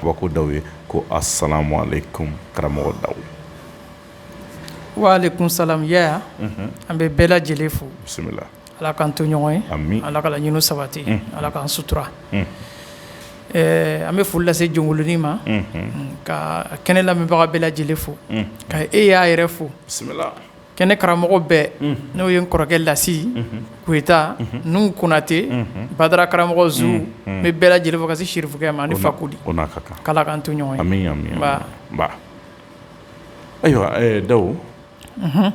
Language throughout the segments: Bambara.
Kabako daw ye ko asalamu alayikum karamɔgɔ daw wa alayikum salam yaya an bɛ bɛɛ lajɛlen fo bisimila ala k'an to ɲɔgɔn ye ami ala ka laɲiniw sabati ala k'an sutura an bɛ foli lase jɔnkolonin ma ka kɛnɛ lamɛnbaga bɛɛ lajɛlen fo ka e yaya yɛrɛ fo bisimila kɛnɛ karamɔgɔ bɛɛ n'o ye n kɔrɔkɛ lasi koyita nuhu konatɛ badara karamɔgɔ zu n bɛ bɛɛ lajɛlen fo ka se sirifukɛ ma ni fakoli k'ala k'an to ɲɔgɔn ye ayiwa daw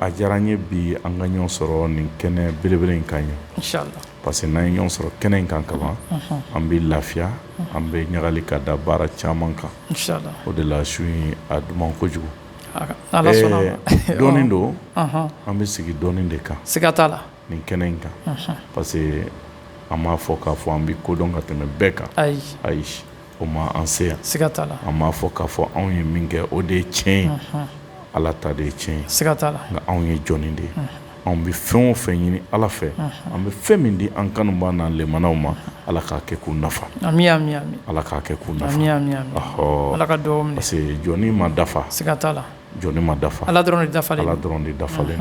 a diyara n ye bi an ka ɲɔgɔn sɔrɔ nin kɛnɛ belebele in kan yan parce que n'an ye ɲɔgɔn sɔrɔ kɛnɛ in kan kaban an bɛ lafiya an bɛ ɲagali ka da baara caman kan o de la su in a duman kojugu dɔnni don an bɛ sigi dɔnni de kan siga t'a la nin kɛnɛ in kan parce que an m'a fɔ k'a fɔ an bɛ ko dɔn ka tɛmɛ bɛɛ kan ayi ayi o ma an se yan siga t'a la an m'a fɔ k'a fɔ anw ye min kɛ o de ye tiɲɛ ye ala ta de ye tiɲɛ ye siga t'a la nka anw ye jɔnnin de ye anw bɛ fɛn o fɛn ɲini ala fɛ an bɛ fɛn min di an kanubaw n'an lɛmanaw ma ala k'a kɛ k'u nafa ala k'a kɛ k'u nafa ala ka parce que jɔnnin ma dafa siga t'a la jɔnnin ma dafa ala dɔrɔn de dafalen ala dɔrɔn de dafalen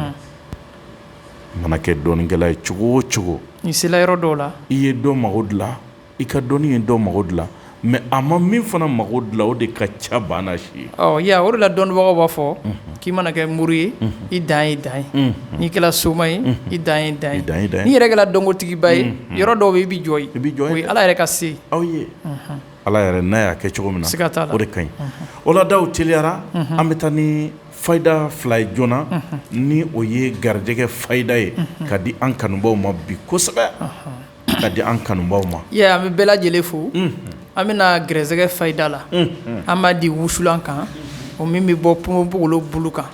mana kɛ dɔnnikɛla ye cogo o cogo n'i sera yɔrɔ dɔw la i ye dɔ mago dilan I ka dɔnni ye dɔ mako dilan mais a ma min fana mako dilan o de ka ca ba n'a si ye ya o de la dɔnnibagaw b'a fɔ k'i mana kɛ muru ye i dan ye dan ye n'i kɛra soma ye i dan ye dan ye n'i yɛrɛ kɛra dɔnkotigiba ye yɔrɔ dɔw bɛ i bɛ jɔ i bɛ jɔ yen ala yɛrɛ ka se aw ye ala yɛrɛ n'a y'a kɛ cogo min na siga t'a la o de ka ɲi o la daw teliyara an bɛ taa ni fayida fila ye joona ni o ye garijɛgɛ fayida ye ka di an kanubaw ma bi kosɛbɛ ka di an kanubaw ma an bɛ bɛɛ lajɛlen fo an bɛna gɛrɛsɛgɛ fayida la an b'a di wusulan kan o min bɛ bɔ ponponpogolo bulu kan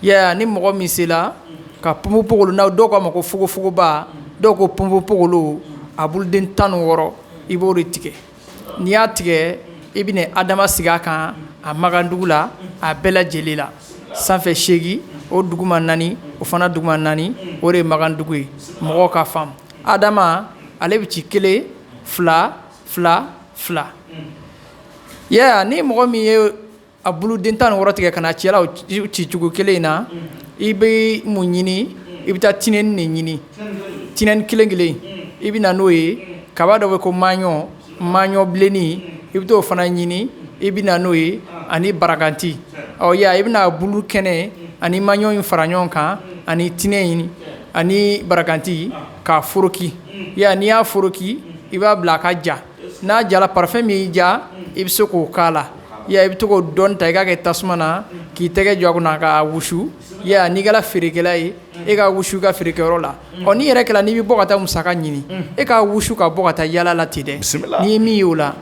ni mɔgɔ min sela ka ponponpogolo n'aw dɔw k'a ma ko fogofogoba dɔw ko ponponpogolo a buluden tan ni wɔɔrɔ i b'o de tigɛ n'i y'a tigɛ i bɛna adama sigi a kan a magandugu la a bɛɛ lajɛlen la sanfɛ seegin o duguma naani o fana duguma naani o de ye magandugu ye mɔgɔ k'a faamu adama ale bɛ ci kelen fila fila fila ni mɔgɔ min ye a buluden tan ni wɔɔrɔ tigɛ ka n'a ci a la cicogo kelen in na i bɛ mun ɲini i bɛ taa tinɛnin ɲini tinɛnin kelen kelen i bɛ na n'o ye kaba dɔ bɛ ko maɲɔ Maɲɔ bilennin i bɛ t'o fana ɲini i bɛ na n'o ye ani barakanti ɔ ya i bɛna bulu kɛnɛ ani maɲɔ in fara ɲɔgɔn kan ani tinɛ in ani barakanti k'a foroki ya n'i y'a foroki i b'a bila a ka ja n'a jala parafɛn min y'i diya i bɛ se k'o k'a la ya i bɛ to k'o dɔɔni ta i k'a kɛ tasuma na k'i tɛgɛ jɔ a kunna k'a wusu ya n'i kɛra feerekɛla ye i k'a wusu i ka feerekɛyɔrɔ la ɔ n'i yɛrɛ kɛra n'i bɛ bɔ ka taa musaka ɲini i k'a wusu ka bɔ ka taa yaala ten dɛ n'i ye min y'o la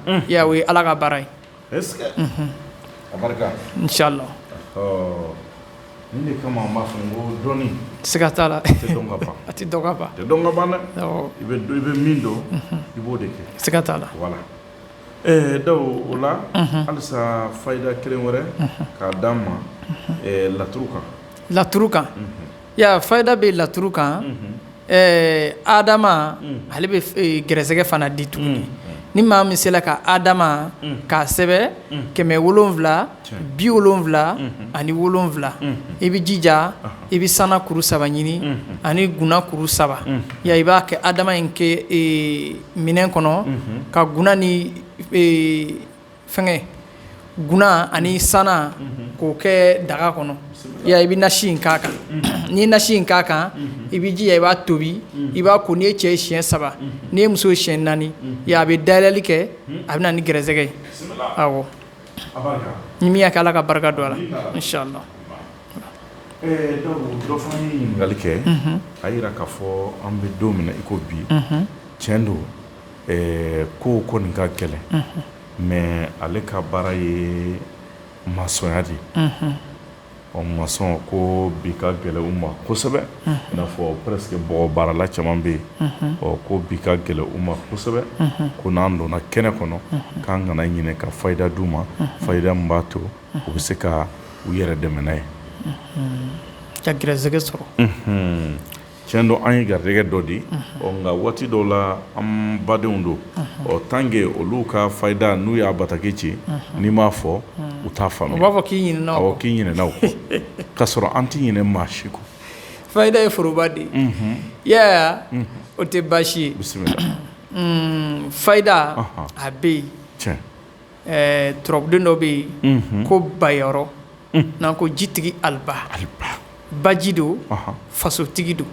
o ye ala ka baara ye inshallah nin de kama an b'a fɔ n ko dɔnni siga t'a la a tɛ dɔn ka ban i bɛ min dɔn i b'o de kɛ siga t'a la Ɛɛ dawu o la halisa fayida kelen wɛrɛ k'a d'an ma laturu kan laturu kan fayida bɛ laturu kan ɛɛ adama ale bɛ gɛrɛsɛgɛ fana di tuguni ni maa min sela ka adama k'a sɛbɛn kɛmɛ wolonwula bi wolonwula ani wolonwula i bɛ jija i bɛ sana kuru saba ɲini ani guna kuru saba ya i b'a kɛ adama in kɛ minɛn kɔnɔ ka guna ni fɛnkɛ guna ani sana k'o kɛ daga kɔnɔ ya i bɛ nasi in k'a kan n'i ye nasi in k'a kan i bɛ jija i b'a tobi i b'a ko n'i ye cɛ ye siyɛn saba n'i ye muso ye siyɛn naani a bɛ dayɛlɛli kɛ a bɛ na ni gɛrɛsɛgɛ ye ni min y'a kɛ ala ka barika don a la inshallah dɔ fana ye ɲininkali kɛ a jira k'a fɔ an bɛ don min na i ko bi tiɲɛ don ko ko nin ka gɛlɛn mɛ ale ka baara ye masɔnya de ye ɔ masɔn ko bi ka gɛlɛn u ma kosɛbɛ n'a fɔ presque bɔgɔ baarala caman bɛ yen ɔ ko bi ka gɛlɛn u ma kosɛbɛ ko n'an donna kɛnɛ kɔnɔ k'an kana ɲinɛ ka fayida d'u ma fayida min b'a to u bɛ se ka u yɛrɛ dɛmɛ n'a ye ka gɛrɛsɛgɛ sɔrɔ Cɛn don an ye garijɛgɛ dɔ di nka waati dɔw la an badenw don ɔ tant que olu ka fayida n'u y'a bataki ci n'i m'a fɔ u t'a faamuya u b'a fɔ k'i ɲinɛna o kɔ k'i ɲinɛna o kɔ k'a sɔrɔ an tɛ ɲinɛ maa si kɔ fayida ye foroba de ye o tɛ baasi ye bisimila fayida a bɛ yen ɛɛ turabuden dɔ bɛ yen ko bayɔrɔ n'an ko jitigi aliba baji don fasotigi don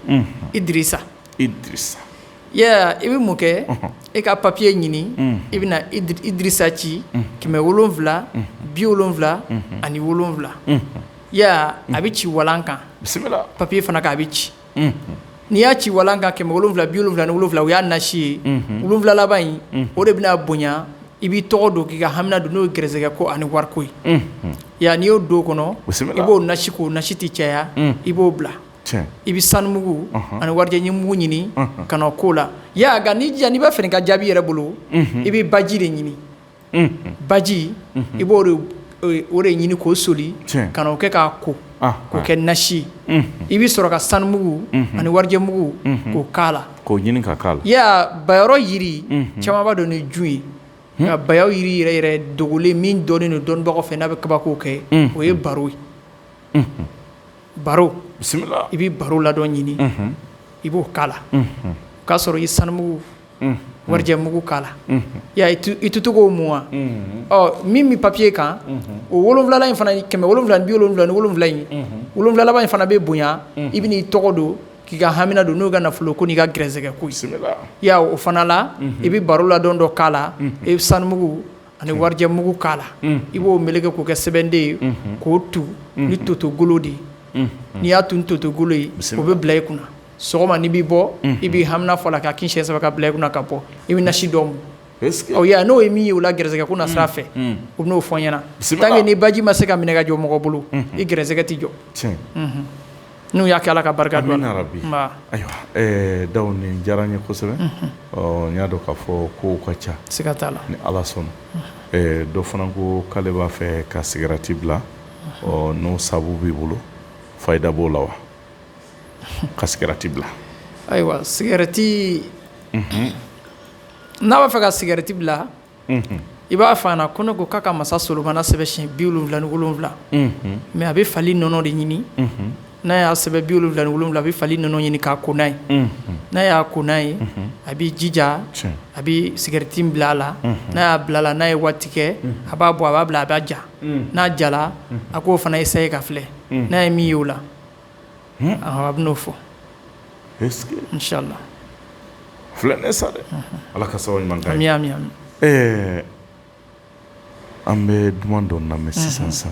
idrisa ya i bɛ mun kɛ i ka papiye ɲini i bɛna idrisa ci kɛmɛ wolonwula bi wolonwula ani wolonwula a bɛ ci walan kan papiye fana kan a bɛ ci n'i y'a ci walan kan kɛmɛ wolonwula bi wolonwula ni wolonwula o y'a nasi ye wolonwula laban in o de bɛna bonya i b'i tɔgɔ don k'i ka hamina don n'o ye gɛrɛsɛgɛ ko ani wariko ye ya n'i y'o don kɔnɔ i b'o nasi k'o nasi tɛ caya i b'o bila i bɛ sanu mugu ani warijɛ mugu ɲini ka na k'o la ya nka n'i jan n'i b'a fɛ ka jaabi yɛrɛ bolo i bɛ baji de ɲini baji i b'o de ɲini k'o soli ka n'o kɛ k'a ko k'o kɛ nasi ye i bɛ sɔrɔ ka sanu mugu ani warijɛ mugu k'o la k'o ɲini ka k'a la ya bayɔrɔ jiri caman b'a dɔn ni jun ye nka ba jiri yɛrɛ yɛrɛ dogolen min dɔnnen don dɔnnibagaw fɛ n'a bɛ kabako kɛ o ye baro ye baro i bɛ baro ladɔn ɲini i b'o k'a la o k'a sɔrɔ i sanumu warijɛ mugu k'a la ya i to to k'o mun ya min bɛ papiye kan o wolonwula in fana kɛmɛ wolonwula bi wolonwula ni wolonwula in wolonwula laban in fana bɛ bonya i bɛ n'i tɔgɔ don k'i ka hamina don n'o y'i ka nafolo ko n'i ka gɛrɛsɛgɛ ko ye ya o fana la i bɛ baro ladɔn dɔ k'a la i bɛ sanu mugu ani warijɛ mugu k'a la i b'o meleke k'o kɛ sɛbɛnden ye k'o tu ni toto golo de n'i y'a tu ni toto golo ye o bɛ bila i kunna sɔgɔma n'i bɛ bɔ i b'i hamina fɔ a la k'a kin siɲɛ saba ka bila i kunna ka bɔ i bɛ nasi dɔ mun n'o ye min y'o la gɛrɛsɛgɛ ko na sira fɛ o bɛ n'o fɔ n ɲɛna tant que ni baji ma se ka minɛ ka jɔ mɔgɔ bolo i gɛrɛsɛgɛ tɛ jɔ n'u y'a kɛ ala ka barika don amina rabi ayiwa daw nin diyara n ye kosɛbɛ n y'a dɔn k'a fɔ kow ka ca siga t'a la ni ala sɔnna dɔ fana ko k'ale b'a fɛ ka cigarette bila ɔ n'o sabu b'i bolo fayida b'o la wa ka cigarette bila ayiwa cigarette n'a b'a fɛ ka cigarette bila i b'a fɔ a ɲɛna ko ne ko k'a ka masa solomana sɛbɛn siɲɛ bi wolonwula ni wolonwula mais a bɛ fali nɔnɔ de ɲini n'a y'a sɛbɛn bi wolonwula ni wolonwula a bɛ fali nɔnɔ ɲini k'a ko n'a ye n'a y'a ko n'a ye a b'i jija a bɛ cigarette bila a la n'a y'a bila a la n'a ye waati kɛ a b'a bɔ a b'a bila a b'a ja n'a jala a k'o fana essayer ka filɛ n'a ye min ye o la a bɛ n'o fɔ inshallah filɛ ne sa dɛ ala ka sababu ɲuman k'a ye amin ɛɛ an bɛ duman dɔ lamɛn sisan sa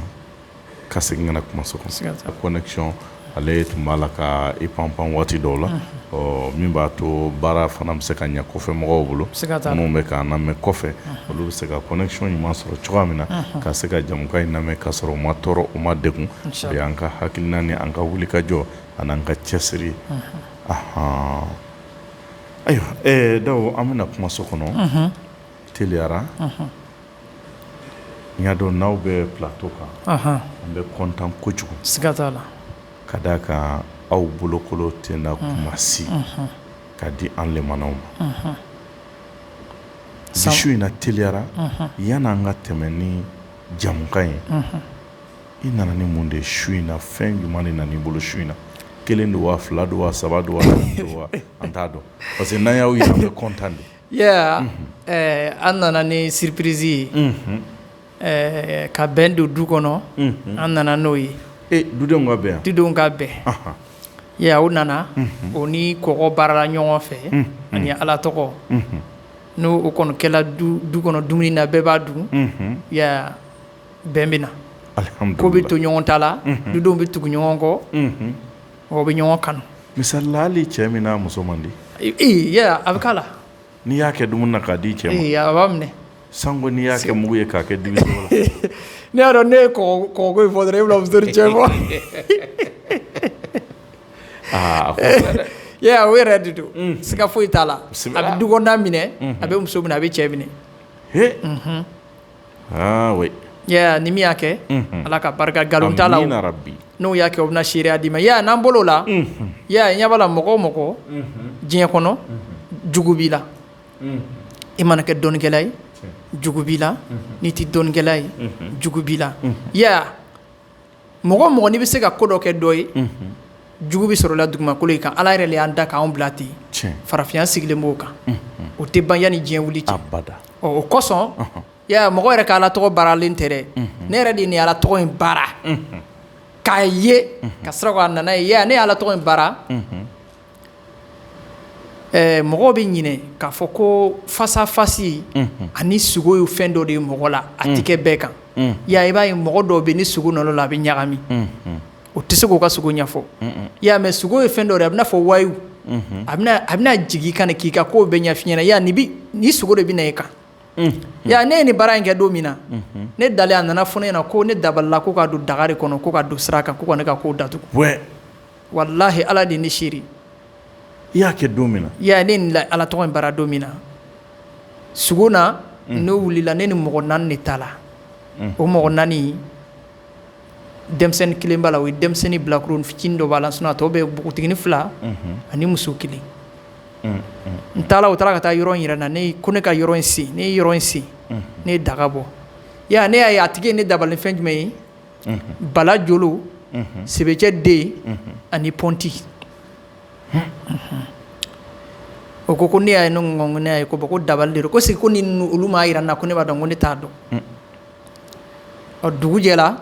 ka segin ka na kuma so kɔnɔ connexion ale tun b'a la ka i pan pan waati dɔw la ɔ min b'a to baara fana bɛ se ka ɲɛ kɔfɛ mɔgɔw bolo minnu bɛ ka na mɛn kɔfɛ olu bɛ se ka connexion ɲuman sɔrɔ cogoya min na ka se ka jamukan in lamɛn ka sɔrɔ u ma tɔɔrɔ u ma degun o y'an ka hakilina ni an ka wuli ka jɔ ani an ka cɛsiri ye aɔn ayiwa ɛɛ Daw an bɛna kumaso kɔnɔ teliyara n y'a dɔn n'aw bɛ plateau kan an bɛ kɔntan kojugu siga t'a la ka d'a kan aw bolokolon tɛ na kuma si k'a di an lamɛnnaw ma Bi su in na teliyara yanni an ka tɛmɛ ni jamukan ye i nana ni mun de ye su in na fɛn jumɛn de nana i bolo su in na kelen don wa fila don wa saba don wa naani don wa an t'a dɔn parce que n'an y'aw ye an bɛ kɔntan de an nana ni surprise ye ɛɛ ka bɛn don du kɔnɔ an nana n'o ye dudenw ka bɛn dudenw ka bɛn ee u nana o ni kɔgɔ baarala ɲɔgɔn fɛ ani ala tɔgɔ n'o o kɔni kɛla du kɔnɔ dumuni na bɛɛ b'a dun bɛn bɛ na ko bɛ to ɲɔgɔn ta la dudenw bɛ tugu ɲɔgɔn kɔ u bɛ ɲɔgɔn kanu misali la hali cɛ min n'a muso man di ee a bɛ k'a la N'i y'a kɛ dumuni na k'a di cɛ ma a b'a minɛ sango n'i y'a kɛ mugu ye k'a kɛ dibi la ne y'a dɔn ne ye kɔgɔ in fɔ dɔrɔn e bɛna muso ni cɛ fɔ aa o yɛrɛ de don siga foyi t'a la a bɛ dukɔnɔna minɛ a bɛ muso minɛ a bɛ cɛ minɛ ni min y'a kɛ ala ka barika nkalon t'a la bi n'o y'a kɛ o bɛna seereya d'i ma n'an balola i ɲɛ b'a la mɔgɔ o mɔgɔ diɲɛ kɔnɔ jugu b'i la i mana kɛ dɔnnikɛla ye jugu b'i la n'i tɛ dɔnnikɛla ye jugu b'i la mɔgɔ o mɔgɔ n'i bɛ se ka ko dɔ kɛ dɔ ye jugu bɛ sɔrɔ i la dugumakolo in kan ala yɛrɛ de y'an da k'an bila ten farafinya sigilen b'o kan o tɛ ban yanni diɲɛ wili cɛ abada o kosɔn mɔgɔ yɛrɛ ka ala tɔgɔ baaralen tɛ dɛ ne yɛrɛ de ye nin ala tɔgɔ in baara k'a ye ka sɔrɔ ka na n'a ye ne ye ala tɔgɔ in baara ɛɛ mɔgɔw bɛ ɲinɛ k'a fɔ ko fasafasi ani sugo ye fɛn dɔ de ye mɔgɔ la a tɛ kɛ bɛɛ kan i y'a ye i b'a ye mɔgɔ dɔw bɛ yen ni sugo nana u la a bɛ ɲagami u tɛ se k'u ka sugo ɲɛfɔ i y'a ye mais sugo ye fɛn dɔ de ye a bɛ i n'a fɔ wayiyu a bɛna jigin i kan de k'i ka kow bɛɛ ɲɛfɔ i ɲɛna i y'a ye ni sugo de bɛ na i kan i y'a ye ne ye nin baara in kɛ don min na ne dalen a nana fɔ ne ɲɛna ko ne dabalila ko k'a don daga de kɔnɔ ko k'a don sira kan ko ka ne ka kow datugu. walahi ala de ne seere i y'a kɛ don min na i ya ne la ala tɔgɔ in baara don min na sɔgɔma n'o wulila ne ni mɔgɔ naani de taala o mɔgɔ naani denmisɛnnin kelen b'a la o ye denmisɛnnin bilakoro fitinin dɔ b'a la sinon a tɔ bɛɛ npogotiginin fila ani muso kelen n taara u taara ka taa yɔrɔ yɛrɛ na ne ko ne ka yɔrɔ in sen ne ye yɔrɔ in sen ne ye daga bɔ ne y'a ye a tigi ye ne dabali fɛn jumɛn ye bala jolo sebecɛ den ani pɔnti o ko ko ne y'a ye ne y'a ye ko ko dabali de don ko sigi ko ni olu m'a jira n na ko ne b'a dɔn ko ne t'a dɔn ɔ dugu jɛla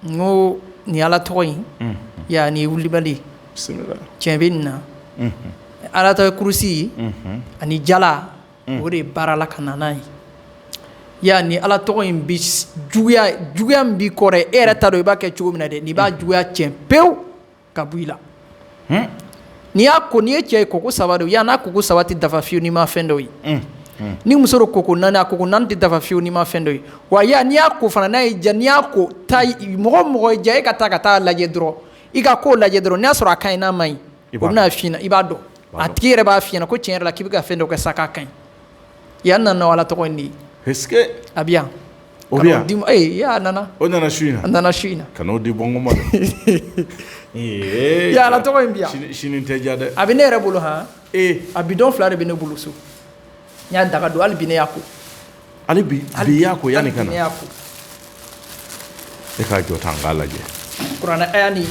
n ko nin ala tɔgɔ in ya nin wulibali tiɲɛ bɛ nin na ala tɔgɔ kurusi ani jala o de ye baara la ka na n'a ye ya nin ala tɔgɔ in bɛ juguya min b'i kɔrɔ e yɛrɛ t'a dɔn i b'a kɛ cogo min na dɛ nin b'a juguya cɛn pewu ka bɔ i la n'i y'a ko n'i ye cɛ ye ko ko saba ya n'a ko ko saba tɛ dafa fiyewu n'i ma fɛn dɔ ye ni muso don ko ko naani a ko ko naani tɛ dafa fiyewu n'i ma fɛn dɔ ye wa ya n'i y'a ko fana n'a ye jan n'i y'a ko ta mɔgɔ mɔgɔ diya e ka taa ka taa lajɛ dɔrɔn i ka ko lajɛ dɔrɔn n'i y'a sɔrɔ a ka ɲi n'a man ɲi o bɛn'a f'i ɲɛna i b'a dɔn A tigi yɛrɛ b'a f'i ɲɛna ko tiɲɛ yɛrɛ la k'i bɛ ka fɛn dɔ kɛ sa k'a ka ɲi ya nana ala tɔgɔ in de ye a bɛ yan o a nana o nana su in na a nana su in na ka n'o di bɔma ala tɔgɔ in bɛ yan sini tɛ ja dɛ a bɛ ne yɛrɛ bolo hɔn a bidon fila de bɛ ne bolo so N y'a daga don hali bi ne y'a ko hali bi hali bi y'a ko yanni ka na hali bi ne y'a ko e k'a jɔ tan n k'a lajɛ kuranɛ haya ni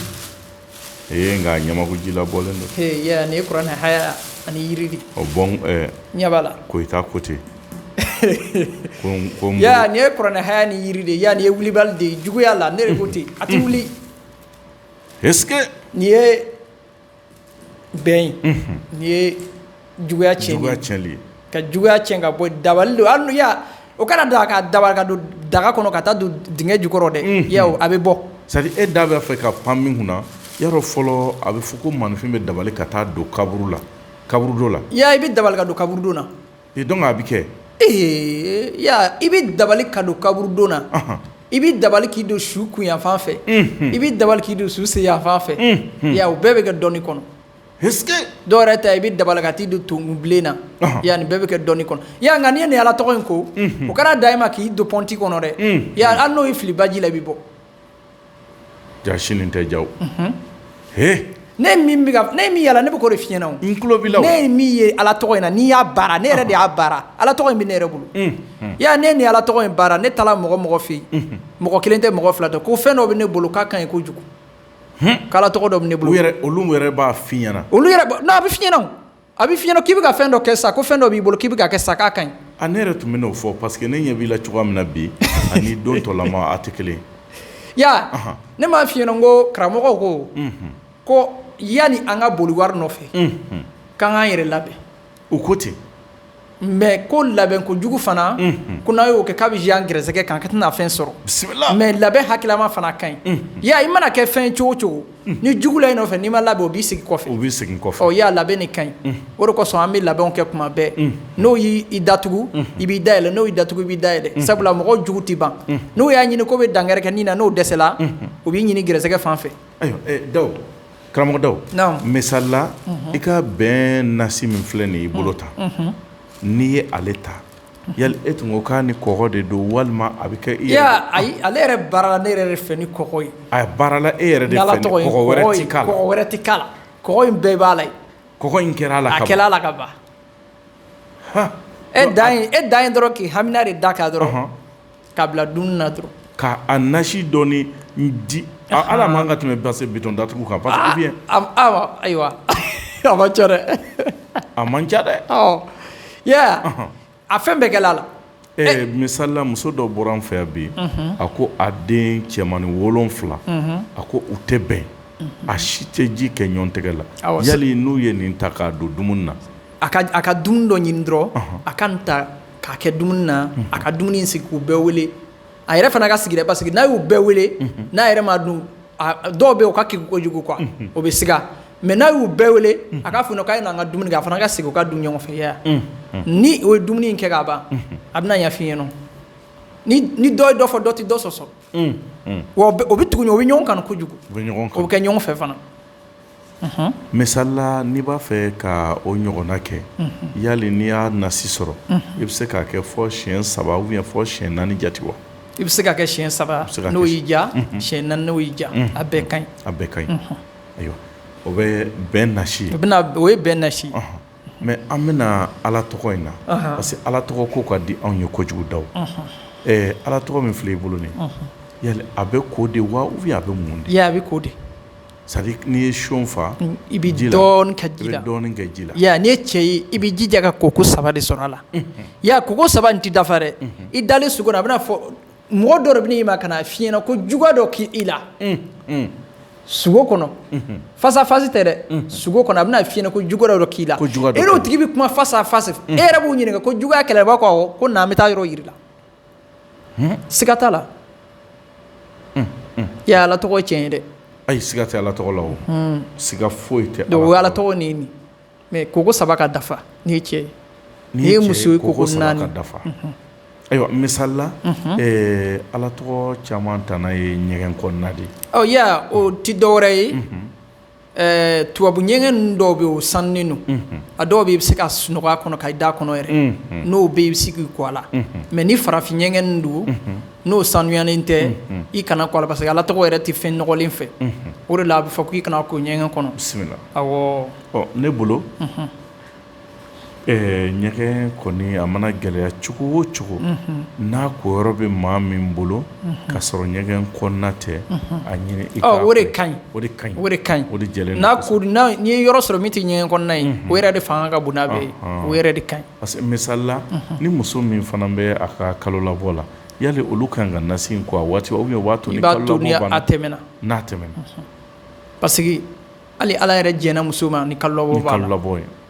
ee nka ɲamakuji la bɔlen don he yɛ nin ye kuranɛ haya ani yiri de ye o bɔn ɛɛ ɲɛ b'a la koyita ko ten ko n- ko n ya bolo- nin ye kuranɛ haya ni yiri de ye ya nin ye wulibali de ye juguya la ne de ko ten a tɛ wuli est ce que nin ye bɛn nin ye juguya cɛnni ye, juguya cɛnni ye, ka juguya cɛn ka bɔ yen, dabali don hali n'i o kana dan ka dabali ka don daga kɔnɔ ka taa don dingɛ jukɔrɔ dɛ, unhun, i y'a ye wa, a bɛ bɔ c'est à dire e da b'a fɛ ka pan min kun na, i y'a dɔn fɔlɔ a bɛ fɔ ko maanifin bɛ dabali ka taa don kaburu la, kaburudo la, i y'a ye i bɛ dabali ka don kaburudo la Donc a bɛ kɛ ee i bɛ dabali ka don kaburudon na i bɛ dabali k'i don su kunyanfan fɛ i bɛ dabali k'i don su senyanfan fɛ ya o bɛɛ bɛ kɛ dɔnni kɔnɔ dɔw yɛrɛ ta i bɛ dabali ka t'i don tonkunbilen na ya nin bɛɛ bɛ kɛ dɔnni kɔnɔ ya nka n'i ye nin ala tɔgɔ in ko o kana dan i ma k'i don pɔnti kɔnɔ dɛ ya hali n'o y'i fili baji la i bɛ bɔ Ja sini tɛ ja h ne min yala ne bɛ k'o de f'i ɲɛna n tulo ne ye min ye ala tɔgɔ in na n'i y'a baara ne yɛrɛ de y'a baara ala tɔgɔ in bɛ ne yɛrɛ bolo ya ne ni ala tɔgɔ in baara ne taara mɔgɔ mɔgɔ fɛ yen mɔgɔ kelen tɛ mɔgɔ fila tɛ ko fɛn dɔ bɛ ne bolo k'a ka ɲi kojugu k'ala tɔgɔ dɔ bɛ ne bolo olu yɛrɛ b'a f'i ɲɛna olu a bɛ f'i ɲɛna A bɛ f'i ɲɛna k'i bɛ ka fɛn dɔ kɛ sa ko fɛn dɔ b'i bolo k'i bɛ ka kɛ sa k'a ka ɲi a ne yɛrɛ tun bɛ n'o fɔ parce que ne ɲɛ b'i la cogoya min na bi ani don tɔlama a tɛ kelen ya ne m'a f'i ɲɛna ko karamɔgɔw ko ko yani an ka boli wari nɔfɛ k'an k'an yɛrɛ labɛn u ko ten mais ko labɛn kojugu fana ko n'a y'o kɛ k'a bɛ jan an gɛrɛsɛgɛ kan ka tɛna fɛn sɔrɔ mais labɛn hakililama fana ka ɲi ya i mana kɛ fɛn cogo cogo ni jugu la i nɔfɛ n'i ma labɛn o b'i segin kɔfɛ o bɛ segin kɔfɛ ya labɛn de ka ɲi o de kosɔn an bɛ labɛnw kɛ kuma bɛɛ n'o y'i datugu i b'i dayɛlɛ n'o y'i datugu i b'i dayɛlɛ sabula mɔgɔ jugu tɛ ban n'o y'a ɲini k'o bɛ dankari k'i ni na n'o dɛsɛla u b'i ɲini gɛrɛsɛgɛ fan fɛ da karamɔgɔ Daw misalila i ka bɛn nasi min filɛ nin y'i bolo tan n'i ye ale ta yali e tun ko k'a ni kɔgɔ de don walima a bɛ kɛ e ayi ale yɛrɛ baarala ne yɛrɛ de fɛ ni kɔgɔ ye a baarala e yɛrɛ de fɛ kɔgɔ wɛrɛ tɛ k'a la kɔgɔ in bɛɛ b'a la kɔgɔ in kɛra a la a kɛla a la ka ban e da e dan ye dɔrɔn k'i hamina de da k' dɔrɔn K'a bila dumuni na dɔrɔn. Ka a nasi dɔɔni di. Hali a man kan ka tɛmɛ base bitɔn datugu kan parce que bien Ayiwa a man ca dɛ. A man ca dɛ. I y'a ye wa? A fɛn bɛɛ kɛla a la. Ɛɛ misalila muso dɔ bɔra an fɛ yan bi a ko a den cɛmani 7 a ko u tɛ bɛn a si tɛ ji kɛ ɲɔgɔn tɛgɛ la. Yali n'u ye nin ta k'a don dumuni na a ka dumuni dɔ ɲini dɔrɔn a ka nin ta. k'a kɛ dumuni na a ka dumuni sigi k'u bɛɛ wele a yɛrɛ fana ka sigi dɛ parce que n'a y'u bɛɛ wele n'a yɛrɛ m'a dun dɔw bɛ u ka kegu kojugu quoi o bɛ siga mais n'a y'u bɛɛ wele a k'a fɔ k'a ye n'an ka dumuni kɛ a fana ka sigi u ka dun ɲɔgɔn fɛ ya ni o ye dumuni in kɛ k'a ban a bɛna ɲɛf'i ɲɛna ni dɔ ye dɔ fɔ dɔ tɛ dɔ sɔsɔ o bɛ tugu o bɛ ɲɔgɔn kanu kojugu o bɛ kɛ ɲɔgɔn fɛ fana misalila n'i b'a fɛ ka o ɲɔgɔnna kɛ yali n'i y'a nasi sɔrɔ i bɛ se k'a kɛ fɔ siyɛn saba ou bien fɔ siyɛn naani jate wa i bɛ se k'a kɛ siyɛn saba n'o y'i diya siyɛn naani n'o y'i diya a bɛɛ ka a bɛɛ ka ɲi ayiwa o bɛ bɛn nasi ye o ye bɛn nasi mais an bɛna ala tɔgɔ in na parce que ala tɔgɔ ko ka di anw ye kojugu Daw ɛɛ ala tɔgɔ min filɛ i bolo nin a bɛ ko de wa ou bien a bɛ mun de C'est à dire n'i ye seau fa, i bɛ dɔɔni kɛ ji la, i y'a ye n'i ye cɛ ye i bɛ i jija ka koko saba de sɔrɔ a la, unhun, i y'a ye koko saba in tɛ dafa dɛ, unhun, i dalen sugo la a bɛna fɔ mɔgɔ dɔ de bɛ na i ma ka na f'i ɲɛna ko juguya dɔ kɛ i la, un un, sugo kɔnɔ, unhun, face à face tɛ dɛ, sugo kɔnɔ a bɛna f'i ɲɛna ko juguya dɔ k'i la, ko juguya dɔ kɛra i la, e n'o tigi bɛ kuma face à face e yɛrɛ b'u ɲininka ko juguya kɛra wa, u b'a fɔ ko awɔ, ko na an bɛ taa yɔrɔ yira i la siga t'a la i ye Ala tɔgɔ tiɲɛ ye dɛ, ayi siga tɛ Ala tɔgɔ la wo, siga foyi tɛ Ala tɔgɔ la, donc o ye Ala tɔgɔ nin ye mais koko saba ka dafa n'i ye cɛ ye, n'i ye muso ye koko naani ka dafa, ayiwa misali la Ala tɔgɔ caman tana ye ɲɛgɛn kɔnɔna de ye, ɔ i y'a ye o tɛ dɔwɛrɛ ye Ɛɛ tubabu ɲɛgɛn ninnu dɔw bɛ yen o sanunen don, unhun, a dɔw bɛ yen i bɛ se ka sunɔgɔ a kɔnɔ ka i da kɔnɔ yɛrɛ, unhun, n'o bɛ yen i bɛ se k'i ko a la, unhun, mais ni farafin ɲɛgɛn ninnu don n'o sanuyalen tɛ, unhun, i kana ko a la parce que Ala tɔgɔ yɛrɛ tɛ fɛn nɔgɔlen fɛ, unhun, o de la a bɛ fɔ k'i kana ko ɲɛgɛn kɔnɔ, bisimila, awɔ, ɔ ne bolo, unhun ɲɛgɛn kɔni a mana gɛlɛya cogo o cogo n'a ko yɔrɔ bɛ maa min bolo ka sɔrɔ ɲɛgɛn kɔnɔna tɛ a ɲini o de ka ɲi n'i ye yɔrɔ sɔrɔ min tɛ ɲɛgɛn kɔnɔna ye o yɛrɛ de fanga ka bon n'a bɛɛ ye o yɛrɛ de ka ɲi parce que misali la ni muso min fana bɛ a ka kalolabɔ la yali olu kan ka nasi in ko a waati tɛmɛna n'a tɛmɛna parce hali ala yɛrɛ jɛnna muso ma ni kalolabɔ b'a la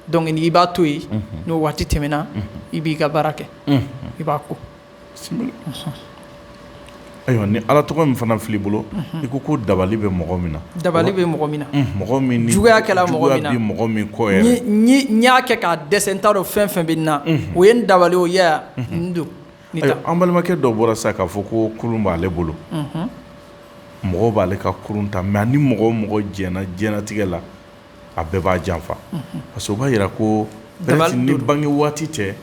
donc i b'a to yen n'o waati tɛmɛna i b'i ka baara kɛ i b'a ko ayiwa ni ala tɔgɔ min fana filɛ i bolo i ko ko dabali bɛ mɔgɔ min na dabali bɛ mɔgɔ min na mɔgɔ min juguya kɛ mɔgɔ min kɔ n y'a kɛ k'a dɛsɛ n t'a dɔn fɛn fɛn bɛ n na o ye dabali o don an balimakɛ dɔ bɔra sa k'a fɔ ko kurun b'ale bolo mɔgɔ b'ale ka kurun ta mais ni mɔgɔ o mɔgɔ jɛnna diɲɛlatigɛ la a bɛɛ b'a janfa parce b'a jira ko ni bange waati tɛ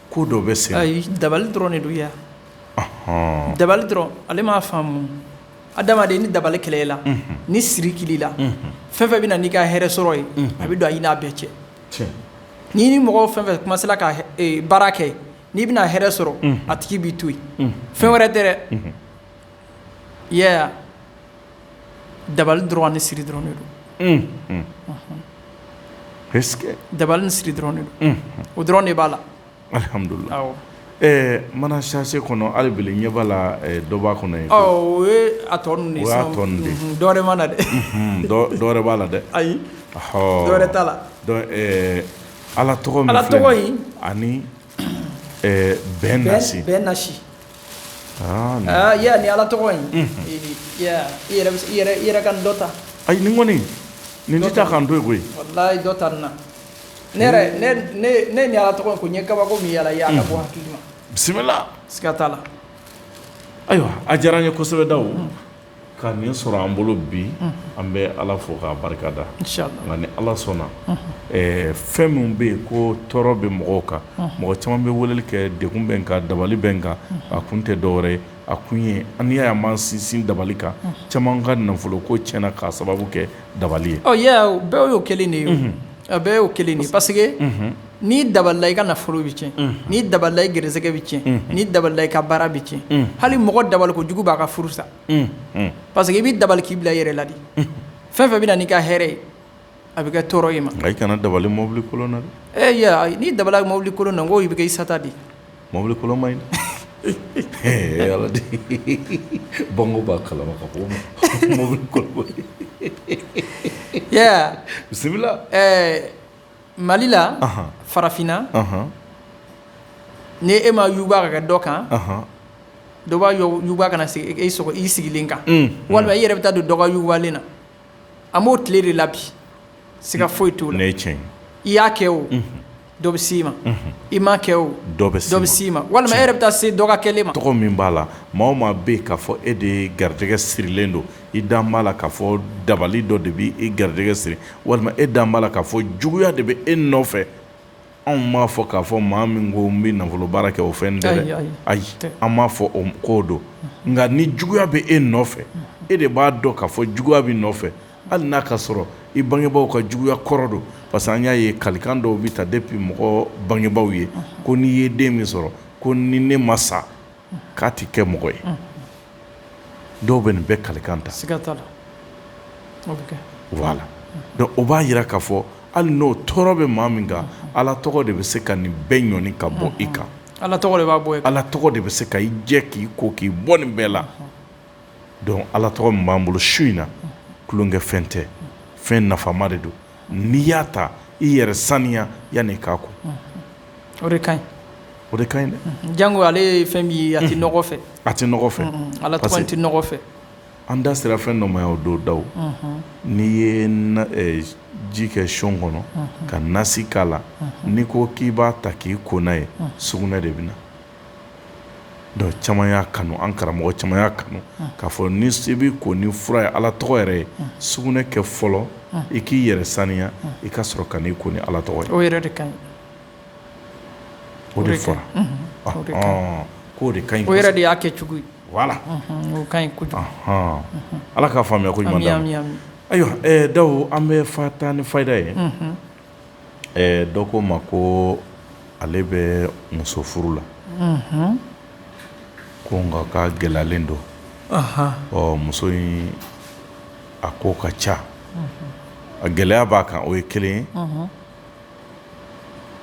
ko dɔ bɛ se dabali dɔrɔn de don yan dabali dɔrɔn ale m'a faamu adamaden ni dabali kɛla i la ni siri kɛla i la fɛn fɛn bɛ na n'i ka hɛrɛ sɔrɔ ye a bɛ don i n'a bɛɛ cɛ n'i ni mɔgɔ fɛn fɛn commencera ka baara kɛ n'i bɛna hɛrɛ sɔrɔ a tigi b'i to yen fɛn wɛrɛ tɛ dɛ i y'a ye dabali dɔrɔn ni siri dɔrɔn don dabali ni siri dɔrɔn don o dɔrɔn de b'a la ɛɛ mana sachet kɔnɔ hali bi ɲɛ b'a la dɔ b'a kɔnɔ yen o a tɔ ninnu de ye dɔwɛrɛ ma na dɛ dɔwɛrɛ b'a la dɛ ayi dɔwɛrɛ t'a la Ala tɔgɔ min filɛ nin ye, Ala tɔgɔ in, ani ɛɛ bɛn nasi nin, bɛn nasi nin, aa i y'a ye nin Ala tɔgɔ in, unhun, i y'a ye wa, i yɛrɛ ka nin dɔ ta, ayi nin kɔni nin tɛ taa ka n to yen koyi, walahi dɔ ta nin na, ne yɛrɛ ne ye nin Ala tɔgɔ in kun n ye kabako min y'a la a ka bon hakili ma, bisimila, siga t'a la, ayiwa a diyara n ye kosɛbɛ Dawu ka nin sɔrɔ an bolo bi an bɛ ala fo k'a barika da inshallah nka ni ala sɔnna fɛn min bɛ yen ko tɔɔrɔ bɛ mɔgɔw kan mɔgɔ caman bɛ weleli kɛ degun bɛ n kan dabali bɛ n kan a kun tɛ dɔwɛrɛ ye a kun ye n'i y'a ye an b'an sinsin dabali kan caman ka nafolo ko tiɲɛna k'a sababu kɛ dabali ye bɛɛ y'o kelen de ye bɛɛ y'o kelen de ye pa N'i dabalila i ka nafolo bɛ cɛn n'i dabalila i gɛrɛsɛgɛ bɛ cɛn n'i dabalila i ka baara bɛ cɛn hali mɔgɔ dabali kojugu b'a ka furu sa parce que i b'i dabali k'i bila i yɛrɛ la de fɛn fɛn bɛ na n'i ka hɛrɛ ye a bɛ kɛ tɔɔrɔ ye i ma i kana dabali mɔbili n'i dabalila mɔbili kolon na ko i bɛ kɛ i sata de mɔbili kolon man ɲi bango b'a kalama mɔbili bisimila Mali la farafinna ni e m'a yuguba ka kɛ dɔ kan dɔ b'a yuguba ka na sigi i sigilen kan walima i yɛrɛ bɛ taa don dɔ ka yugubalen na an b'o tile de la bi siga foyi t'o la cɛn i y'a kɛ o dɔ bɛ s'i ma i m'a kɛ o dɔ bɛ s'i ma walima e yɛrɛ bɛ taa se dɔ ka kɛlen ma tɔgɔ min b'a la maa o maa bɛ yen k'a fɔ e de garijɛgɛ sirilen don i dalen b'a la k'a fɔ dabali dɔ de bɛ e garijɛgɛ siri walima e dalen b'a la k'a fɔ juguya de bɛ e nɔfɛ anw m'a fɔ k'a fɔ maa min ko n bɛ nafolo baara kɛ o fɛn dɛ ayi an m'a fɔ k'o don nka ni juguya bɛ e nɔfɛ e de b'a dɔn k'a fɔ juguya b'i nɔfɛ hali n'a ka sɔrɔ i bangebaaw ka juguya kɔrɔ don parce que an y'a ye kalikan dɔw bɛ ta depuis mɔgɔ bangebaaw ye ko n'i ye den min sɔrɔ ko ni ne ma sa k'a tɛ kɛ mɔgɔ ye dɔw bɛ nin bɛɛ kalikan ta voilà donc o b'a jira k'a fɔ hali n'o tɔɔrɔ bɛ maa min kan ala tɔgɔ de bɛ se ka nin bɛɛ ɲɔni ka bɔ i kan ala tɔgɔ de b'a bɔ ala tɔgɔ de bɛ se ka i jɛ k'i ko k'i bɔ nin bɛɛ la donc ala tɔgɔ min b'an bolo su in na tulonkɛ fɛn tɛ fɛn nafama de don n'i y'a ta i yɛrɛ saniya yanni k'a kun o de ka ɲi o de ka ɲi dɛ jango ale ye fɛn min ye a tɛ nɔgɔ fɛ a tɛ nɔgɔ fɛ ala tɔgɔ tɛ nɔgɔ fɛ an da sera fɛn dɔ ma yan o don Dawu n'i ye ji kɛ siyɔn kɔnɔ ka nasi k'a la n'i ko k'i b'a ta k'i ko n'a ye sugunɛ de bɛ na donc caman y'a kanu an karamɔgɔ caman y'a kanu k'a fɔ ni se b'i ko ni fura ye Ala tɔgɔ yɛrɛ ye sugunɛ kɛ fɔlɔ i k'i yɛrɛ saniya i ka sɔrɔ ka n'i ko ni Ala tɔgɔ ye o yɛrɛ de kaɲi o de fɔra o de kaɲi ɔnhɔn k'o de kaɲi kɔsɛbɛ o yɛrɛ de y'a kɛcogo ye voilà unhun o kaɲi kojugu ɔnhɔn Ala k'a faamuya ko ɲuman d'an ma ami ami ami ayiwa ɛɛ Dawu an bɛ fa taa ni fayida ye unhun Dɔ ko ma ko ale bɛ muso furu la ko nka k'a gɛlɛyalen don ɔ muso in a ko ka ca a gɛlɛya b'a kan o ye kelen ye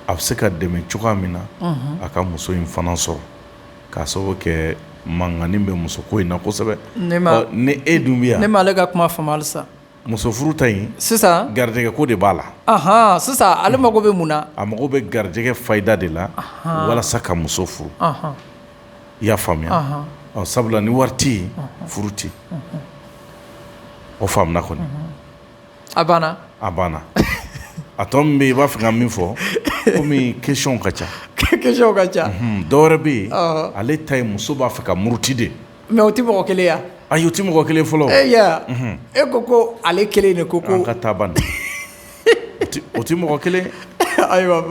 a bɛ se ka dɛmɛ cogoya min na a ka muso in fana sɔrɔ k'a sababu kɛ mankannin bɛ muso ko in na kosɛbɛ ne e dun bɛ yan ne m'ale ka kuma faamuya sa Muso furu ta in sisan garijɛgɛ ko de b'a la aɔn sisan ale mago bɛ mun na a mago bɛ garijɛgɛ fayida de la walasa ka muso furu i y'a faamuya ɔ sabula ni wari tɛ furu tɛ o faamuna kɔni a banna a banna a tɔ min bɛ yen i b'a fɛ ka min fɔ kɔmi question ka ca question ka ca dɔwɛrɛ bɛ yen ale ta ye muso b'a fɛ ka muruti de Mais o tɛ mɔgɔ kelen ya ayi o tɛ mɔgɔ kelen fɔlɔ e e ko ko ale kelen de ko an ka taa ban o tɛ mɔgɔ kelen ayiwa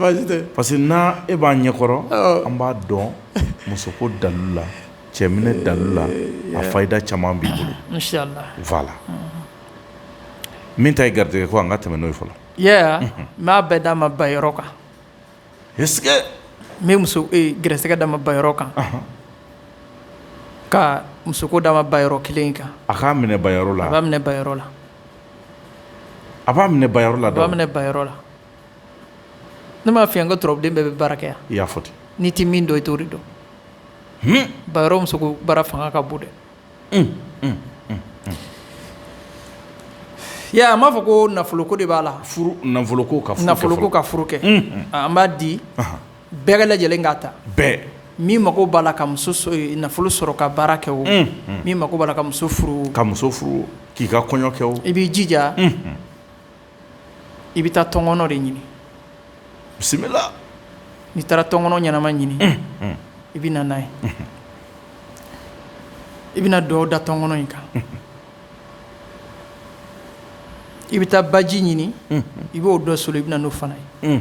parce que n' e b'a ɲɛkɔrɔ an b'a dɔn muso ko dalu la cɛminɛ dalu la a fayida caman b'i bolo inshallah voilà min ta ye garijɛgɛ ko an ka tɛmɛ n'o ye fɔlɔ n b'a bɛɛ d'a ma ba yɔrɔ kan n bɛ muso garijɛgɛ d'a ma ba yɔrɔ kan ka muso ko d'a ma ba yɔrɔ kelen kan a k'a minɛ ba yɔrɔ la a minɛ ba yɔrɔ la a b'a minɛ ba yɔrɔ la a minɛ ba yɔrɔ la ne m'a f'i ye n ko turabuden bɛɛ bɛ baara kɛ yan i y'a fɔ ten n'i tɛ min dɔn i t'o de dɔn ba yɔrɔ muso ko baara fanga ka bon dɛ a m'a fɔ ko nafolo ko de b'a la nafolo ko ka furu kɛ an b'a di bɛɛ lajɛlen k'a ta min mako b'a la ka nafolo sɔrɔ ka baara kɛ o min mako b'a la ka muso furu ka muso furu k'i ka kɔɲɔ kɛ i b'i jija i bɛ taa tɔnkɔnɔ de ɲini bisimila n'i taara tɔnkɔnɔ ɲɛnama ɲini i bɛ na n'a ye i bɛna dugawu da tɔnkɔnɔ in kan i bɛ taa baji ɲini i b'o dɔ solo i bɛ na n'o fana ye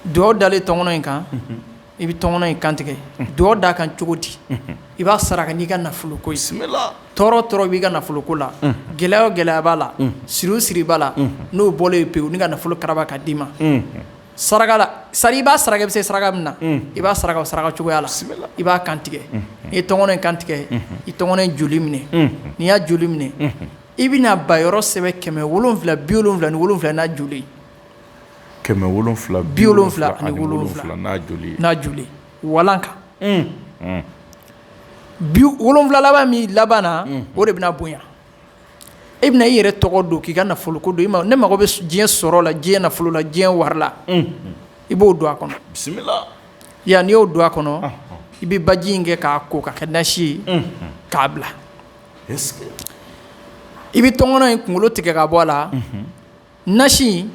dugawu dalen tɔnkɔnɔ in kan i bɛ tɔngɔnɔ in kantigɛ dugawu da a kan cogo di i b'a saraka n'i ka nafolo ko ye tɔɔrɔ tɔɔrɔ b'i ka nafolo ko la gɛlɛya o gɛlɛya b'a la siri o siri b'a la n'o bɔlen ye pewu ni ka nafolo karaba ka d'i ma saraka la sa i b'a saraka i bɛ se saraka min na i b'a saraka o saraka cogoya la i b'a kantigɛ n'i ye tɔngɔnɔ in kantigɛ i tɔngɔnɔ in joli minɛ n'i y'a joli minɛ i bɛna ba yɔrɔ sɛbɛn kɛmɛ wolonwula bi wolonwula ni wolonwula n'a joli kɛmɛ wolonwula bi wolonwula ani wolonwula n'a joli n'a joli walan kan wolonwula laban min laban na o de bɛna bonya e bɛna i yɛrɛ tɔgɔ don k'i ka nafolo ko don ne mago bɛ diɲɛ sɔrɔ la diɲɛ nafolo la diɲɛ wari la i b'o don a kɔnɔ bisimila yan n'i y'o don a kɔnɔ i bɛ baji in kɛ k'a ko ka kɛ nasi ye k'a bila i bɛ tɔngɔnɔ in kunkolo tigɛ ka bɔ a la nasi in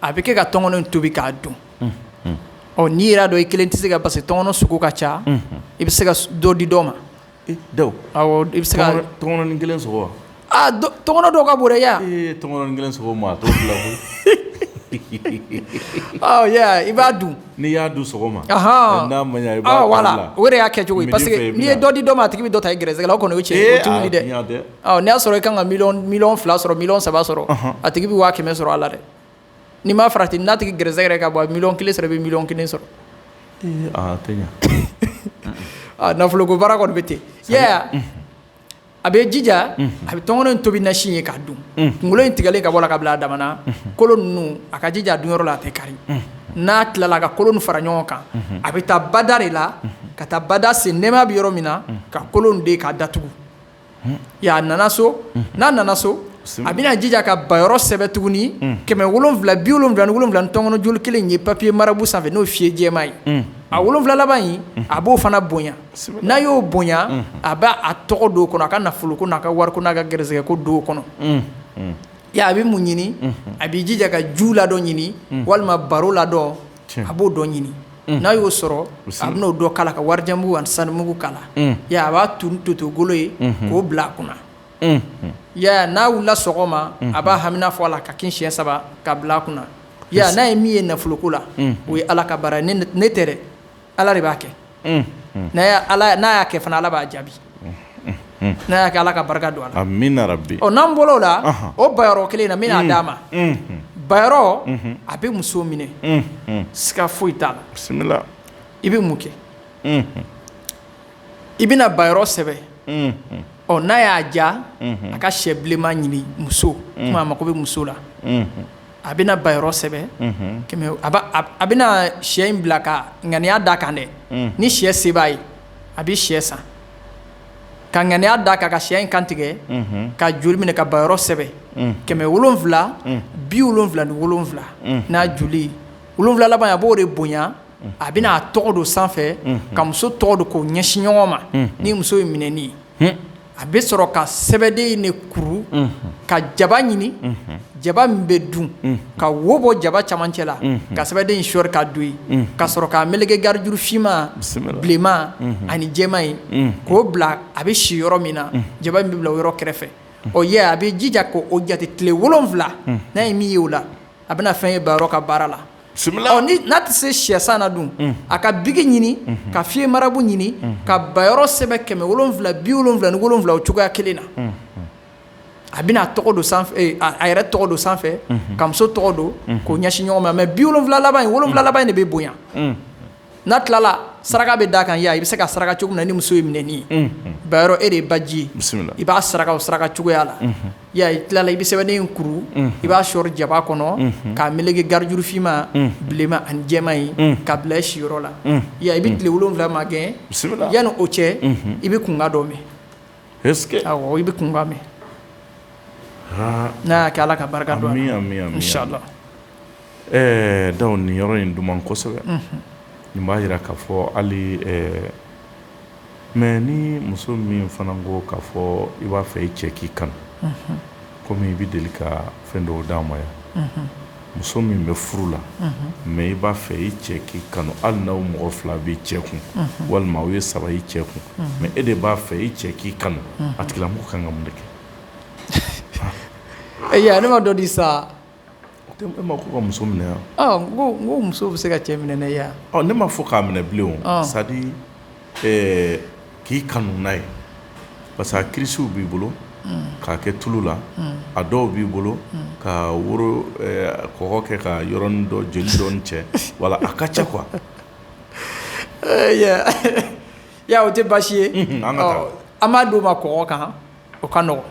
a bɛ kɛ ka tɔngɔnɔ tobi k'a dun ɔ n'i yɛrɛ y'a dɔn i kelen tɛ se ka parce que tɔngɔnɔ sogo ka ca i bɛ se ka dɔ di dɔ ma i bɛ se ka tɔngɔnɔ kelen tɔngɔnɔ dɔw ka bon dɛ i b'a dun n'i y'a dun sɔgɔma voilà o yɛrɛ y'a kɛcogo ye parce que n'i ye dɔ di dɔ ma a tigi bɛ dɔ ta i gɛrɛsɛgɛ la o kɔni o cɛ dɛ n'i y'a sɔrɔ i ka kan ka miliyɔn fila sɔrɔ miliyɔn saba sɔrɔ a tigi bɛ waa kɛmɛ sɔrɔ a la dɛ n'i ma farati n'a tigi gɛrɛsɛgɛ yɛrɛ ka bon miliyɔn kelen sɔrɔ i bɛ miliyɔn kelen sɔrɔ nafolo ko baara kɔni bɛ ten a bɛ jija a bɛ tɔngɔnɔ in tobi nasi ye k'a dun kunkolo in tigɛlen ka bɔ a la ka bila a dama na kolo ninnu a ka jija a dun yɔrɔ la a tɛ kari n'a tilala a ka kolo nin fara ɲɔgɔn kan a bɛ taa bada de la ka taa bada sen nɛma bɛ yɔrɔ min na ka kolo in de k'a datugu a nana so n'a nana so a bɛna jija ka ba yɔrɔ sɛbɛn tuguni kɛmɛ wolonwula bi wolonwula ni wolonwula ni tɔngɔnɔ joli kelen ye papiye marabu sanfɛ n'o fɛyi jɛman ye a wolonwula laban in a b'o fana bonya n'a y'o bonya a b'a tɔgɔ don o kɔnɔ a ka nafolo ko n'a ka wari ko n'a ka gɛrɛsɛgɛ ko don o kɔnɔ a bɛ mun ɲini a bɛ jija ka jun ladɔn ɲini walima baro ladɔn a b'o dɔ ɲini n'a y'o sɔrɔ a bɛna o dɔ k'a la ka warijɛ mugu ani sanu mugu k'a la a b'a tu ni toto golo ye k'o bila a kunna ya n'a wulila sɔgɔma a b'a hamina fɔ a la ka kin siɲɛ saba ka bila a kunna ya n'a ye min ye nafoloko la o ye ala ka baara ye ne tɛ dɛ ala de b'a kɛ n'a y'a kɛ fana ala b'a jaabi n'a y'a kɛ ala ka barika don a la n'an bɔl'o la o ba yɔrɔ kelen na n bɛna d'a ma ba yɔrɔ a bɛ muso minɛ siga foyi t'a la i bɛ mun kɛ i bɛna ba yɔrɔ sɛbɛn ɔ n'a y'a ja a ka syɛ bilenman ɲini muso komi a mako bɛ muso la a bɛna ba yɔrɔ sɛbɛn a bɛna shɛ in bila ka ŋaniya d'a kan dɛ ni shɛ se b'a ye a bɛ shɛ san ka ŋaniya d'a kan ka shɛ in kantigɛ ka joli minɛ ka ba yɔrɔ sɛbɛn kɛmɛ wolonwula bi wolonwula ni wolonwula n'a joli wolonwula laban a b'o de bonya a bɛna a tɔgɔ don sanfɛ ka muso tɔgɔ don k'o ɲɛsin ɲɔgɔn ma ni muso ye minɛni ye a bɛ sɔrɔ ka sɛbɛden in de kuru ka jaba ɲini jaba min bɛ dun ka wo bɔ jaba camancɛ la ka sɛbɛden in sɔɔri ka don yen ka sɔrɔ k'a meleke garijuru finman bilenman ani jɛman in k'o bila a bɛ si yɔrɔ min na jaba in bɛ bila o yɔrɔ kɛrɛfɛ ɔ ye a bɛ jija k'o jate tile wolonwula n'a ye min ye o la a bɛna fɛn ye ba yɔrɔ ka baara la n'a tɛ se shɛ san na dun a ka bigi ɲini ka fiye marabu ɲini ka ba yɔrɔ sɛbɛn kɛmɛ wolonwula bi wolonwula ni wolonwula o cogoya kelen na a bɛna a tɔgɔ don a yɛrɛ tɔgɔ don sanfɛ ka muso tɔgɔ don k'o ɲɛsin ɲɔgɔn ma mɛ bi wolonwula wolonwula laban in de bɛ bonya n'a tilala saraka bɛ d'a kan yan i bɛ se ka saraka cogo min na ni muso ye minɛni ye, unhun, ba yɔrɔ e de ye baji ye, bisimila, i b'a saraka o saraka cogoya la, unhun, i y'a ye, i tilala i bɛ sɛbɛnden in kuru, unhun, i b'a sɔɔri jaba kɔnɔ, unhun, k'a meleke garijuru finman, unhun, bilenman ani jɛman in, unhun, ka bila i siyɔrɔ la, unhun, i y'a ye, i bɛ tile wolonwula magɛn, bisimila, yanni o cɛ, unhun, i bɛ kunkan dɔ mɛn, est-ce que awɔ, i bɛ kunkan mɛn, haa, n'a y'a kɛ Ala ka barika don a la, ami ami ami, inchallah Ɛɛ dɔnku nin yɔrɔ in duman kosɛbɛ nin b'a jira k'a fɔ hali mɛ ni muso min fana ko k'a fɔ i b'a fɛ i cɛ k'i kanu kɔmi i bɛ deli ka fɛn dɔw d'an ma yan muso min bɛ furu la mɛ i b'a fɛ i cɛ k'i kanu hali n'aw mɔgɔ fila b'i cɛ kun walima aw ye saba i cɛ kun mɛ e de b'a fɛ i cɛ k'i kanu a tigilamɔgɔ kan ka mun de kɛ ɛ ne ma dɔ di sa ka muso minɛ yan ko muso bɛ se ka cɛ minɛ ne yan ne ma fɔ k'a minɛ bilen o c'est-à-dire k'i kanu n'a ye parce que a kirisiw b'i bolo k'a kɛ tulu la a dɔw b'i bolo ka woro kɔgɔ kɛ ka yɔrɔnin dɔ jeli dɔɔni cɛ wala a ka ca kuwa o tɛ baasi ye an b'a d'o ma kɔgɔ kan O ka nɔgɔn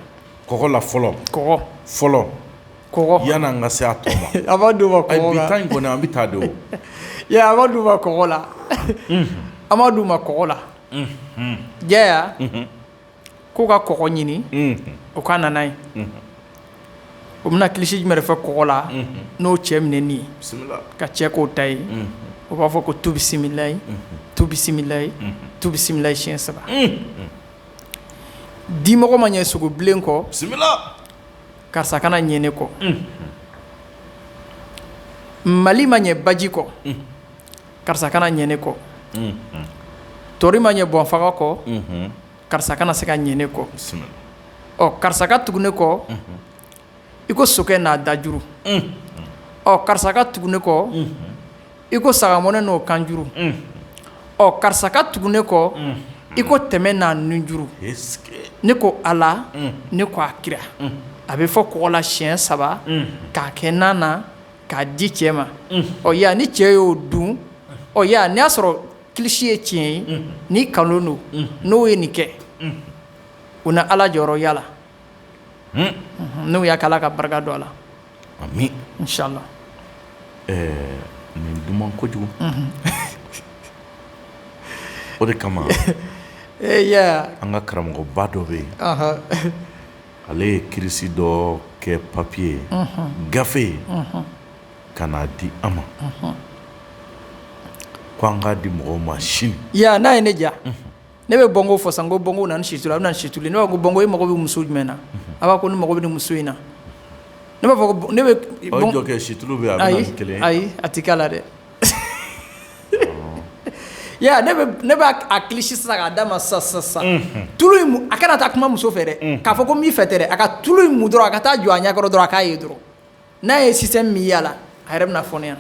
kɔgɔ la fɔlɔ kɔgɔ fɔlɔ kɔgɔ yan'an ka se a b'a di ma in kɔnɔ an bɛ taa don an b'a d'u ma kɔgɔ la an b'a d'u ma kɔgɔ la jaya k'u ka kɔgɔ ɲini o ka na n'a ye o bɛna kilisi jumɛn de fɛ kɔgɔ la n'o cɛ minɛni ye ka cɛ k'o ta ye o b'a fɔ ko tu bisimilayi tu bisimilayi tu bisimilayi siyɛn saba dimɔgɔ ma ɲɛ sogo bilen kɔ karisa kana ɲɛ ne kɔ mali ma ɲɛ baji kɔ karisa kana ɲɛ ne kɔ tori ma ɲɛ bɔnfaga kɔ karisa kana se ka ɲɛ ne kɔ ɔ karisa ka tugu ne kɔ i ko sokɛ n'a dajuru ɔ karisa ka tugu ne kɔ i ko sagamɔnɛ n'o kanjuru ɔ karisa ka tugu ne kɔ i ko tɛmɛ n'a nunjuru ne ko ala ne ko a kira a bɛ fɔ kɔgɔ la siɲɛ saba k'a kɛ na na k'a di cɛ ma ɔ ya ni cɛ y'o dun ɔ ya n'i y'a sɔrɔ kilisi ye tiɲɛ ye ni kalon don n'o ye nin kɛ u na ala jɔyɔrɔ y'a la n'o y'a k'ala ka barika don a la amin inshallah nin duman kojugu o de kama e an ka karamɔgɔba dɔ bɛ yen ale ye kirisi dɔ kɛ papiye gafe ye ka n'a di an ma ko an k'a di mɔgɔw ma sini n'a ye ne diya ne bɛ bɔnko fɔ sa ko bɔnko na ni situlu a bɛ na ni situlu ne b'a fɔ ko bɔnko e mako bɛ muso jumɛn na a b'a ko ne mako bɛ nin muso in na ne b'a fɔ ne bɛ situlu ayi ayi a tɛ k'a la dɛ ne b'a kilisi sisan k'a d'a ma sa sa sa tulu in a kana taa kuma muso fɛ dɛ k'a fɔ ko n b'i fɛ tɛ dɛ a ka tulu in mun dɔrɔn a ka taa jɔ a ɲɛ kɔrɔ dɔrɔn a k'a ye dɔrɔn n'a ye système min ye a la a yɛrɛ bɛna fɔ ne ɲɛna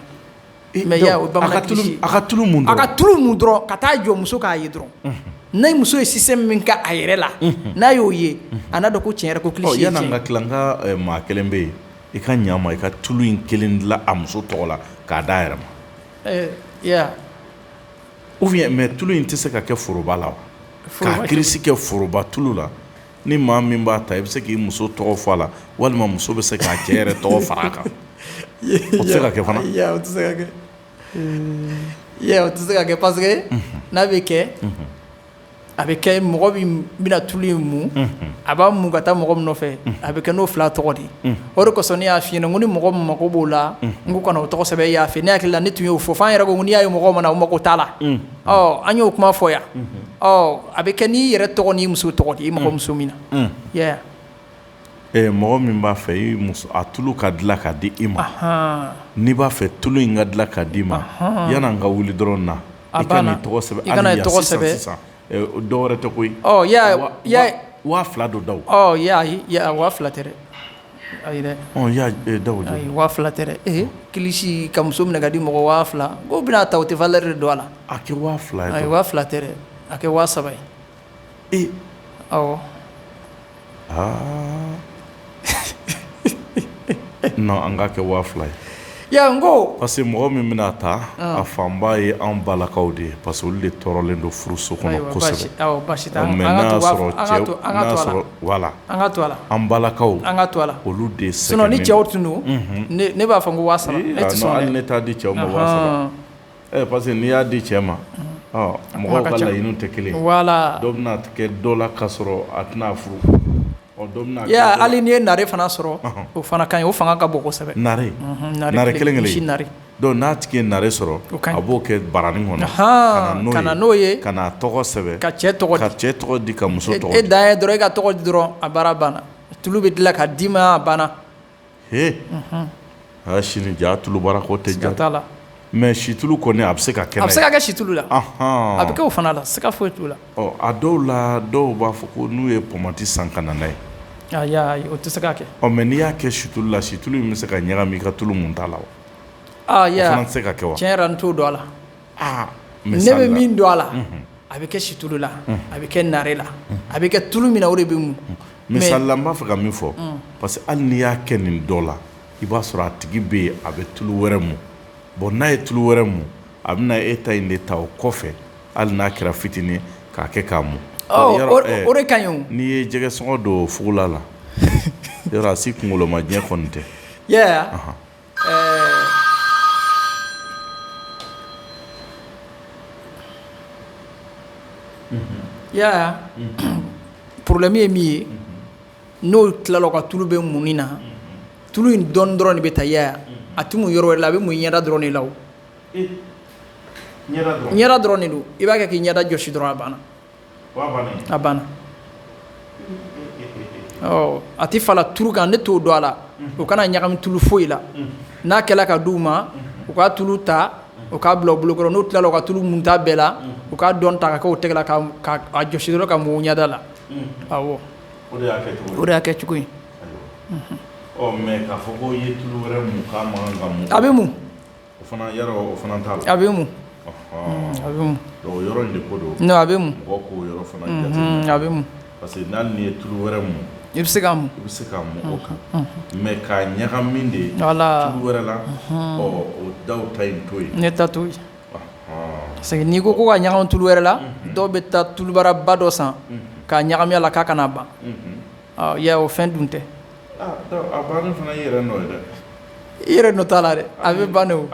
i m'a ye wa o ye bamanan kilisi ye, donc a ka tulu mun dɔrɔn, a ka tulu mun dɔrɔn ka taa jɔ muso k'a ye dɔrɔn, unhun, ni muso ye système min kɛ a yɛrɛ la, unhun, n'a y'o ye a n'a dɔn ko tiɲɛ yɛrɛ la ko kilisi ye tiɲɛ ye, ɔ yani an ka tila n ka maa kelen bɛ yen i ka ɲɛ an ma i ka tulu in kelen dilan a muso tɔgɔ la k'a d'a yɛrɛ ma, ɛɛ i y'a ye wa, ou bien mais tulu in tɛ se ka kɛ foroba la wa, k'a kirisi kɛ foroba tulu la ni maa min b'a ta i bɛ se k'i muso tɔgɔ fɔ a la walima muso bɛ se k'a cɛ yɛrɛ tɔgɔ fara a kan o tɛ se ka kɛ fana o tɛ se ka kɛ o tɛ se ka kɛ parce que n'a bɛ kɛ a bɛ kɛ mɔgɔ min bɛna tulu in mun a b'a mun ka taa mɔgɔ min nɔfɛ a bɛ kɛ n'o fila tɔgɔ de o de kosɔn ne y'a f'i ɲɛna ko ni mɔgɔ min mago b'o la n ko ka na o tɔgɔ sɛbɛn e y'a fɛ ne hakili la ne tun y'o fɔ fɔ an yɛrɛ ko n'i y'a ye mɔgɔ ma na o mago t'a la an y'o kuma fɔ yan a bɛ kɛ n'i yɛrɛ tɔgɔ n'i muso tɔgɔ de i mago muso min na mɔgɔ min b'a fɛ i muso a tulu ka dilan ka di i ma n'i b'a fɛ tulu in ka dilan ka d' i ma yan'an ka wuli dɔrɔn na a ka tɔgɔ sɛbɛn i ka n'a tɔgɔ sɛbɛn sisan dɔ wɛrɛ tɛ koyi waa fila don da waa fila tɛ dɛ Ayi dɛ ɔ y'a da waa fila tɛ dɛ kilisi ka muso minɛ ka di mɔgɔ waa fila ko bɛna ta o tɛ valeur de don a la a kɛ waa fila ayi waa fila tɛ dɛ a kɛ waa saba ye ee ɔ aa n an ka kɛ waa fila ye Ko parce que mɔgɔ min bɛna ta a fanba ye an balakaw de ye parce olu de tɔɔrɔlen don furuso kɔnɔ kosɛbɛ an balakaw an ka to olu de sɛgɛnnen ni cɛw tun don ne b'a fɔ ko ne t'a di cɛw ma ɛ parce que n'i y'a di cɛ ma mɔgɔw ka laɲiniw tɛ kelen dɔ bɛn'a kɛ dɔ la k'a sɔrɔ a tɛna furu Ya hali n'i ye naare fana sɔrɔ o fana ka ɲi o fanga ka bon kosɛbɛ naare naare kelen kelen naare donc n'a tigi ye naare sɔrɔ a b'o kɛ baranin kɔnɔ h ka na n'o ye ka tɔgɔ sɛbɛn ka cɛ tɔgɔ ka cɛ tɔgɔ di ka muso tɔgɔ di e dan ye dɔrɔn e ka tɔgɔ di dɔrɔn a baara banna tulu bɛ dilan ka d'i ma a banna H aa sini ja tulu baara ko tɛ ja t'a la mais situlu kɔni a bɛ se ka kɛ a bɛ se ka kɛ situlu la a bɛ kɛ fana la siga foyi t'o la a dɔw la dɔw b'a fɔ ko n'u ye pɔmati san ka na n'a ye o tɛ se ka kɛ ɔ mais n'i y'a kɛ situlu la situlu bɛ se ka ɲagami i ka tulu munta la se ka kɛ tiɲɛ yɛrɛ n t'o dɔn a la aa misali la, ne bɛ min dɔn a la, unhun, a bɛ kɛ situlu la, unhun, a bɛ kɛ naare la, unhun, a bɛ kɛ tulu min na o de bɛ mun, misali la n b'a fɛ ka min fɔ, un, parce que hali n'i y'a kɛ nin dɔ la i b'a sɔrɔ a tigi bɛ yen a bɛ tulu wɛrɛ mun bon n'a ye tulu wɛrɛ mun a bɛna e ta in de ta o kɔfɛ hali n'a kɛra fitinin ye k'a kɛ k'a mun, ɔ yɔrɔ ɛɛ o de ka ɲi o, n'i ye jɛgɛ sɔngɔ don fugula la yɔrɔ a si kunkoloma diɲɛ kɔni tɛ, i y'a ye wa, anhan, I y'a ye problème ye min ye n'o tilala ka tulu bɛɛ munni na tulu in dɔɔnin dɔrɔn de bɛ ta ya a tɛ mun yɔrɔ wɛrɛ la a bɛ mun ɲɛda dɔrɔn de la o ɲɛda dɔrɔn de don i b'a kɛ k'i ɲɛda jɔsi dɔrɔn a banna a banna a tɛ fala tulu kan ne t'o dɔn a la o kana ɲagami tulu foyi la n'a kɛla ka d'u ma u ka tulu ta u k'a bila bolokɔrɔ n'u tilala u ka tulu munta bɛɛ la u ka dɔɔnin ta k'a kɛ o tɛgɛ la k'a jɔsi dɔrɔn ka mun ɲɛda la o de y'a kɛcogo ye a bɛ O fana yɔrɔ o fana t'a la a bɛ mun a bɛ mun yɔrɔ in de ko don a bɛ mun mɔgɔ k'o yɔrɔ fana a bɛ mun parce que hali n'i ye tulu wɛrɛ mun i bɛ se k'a mun i bɛ se k'a mun o kan mais k'a ɲagami de tulu wɛrɛ la ɔ o dɔw ta in to yen ne ta to yen parce que n'i ko ko ka ɲagami tulu wɛrɛ la dɔw bɛ taa tulu baraba dɔ san k'a ɲagami a la k'a kana ban Ya o fɛn dun tɛ i yɛrɛ nɔ t'a la dɛ a bɛ ban don o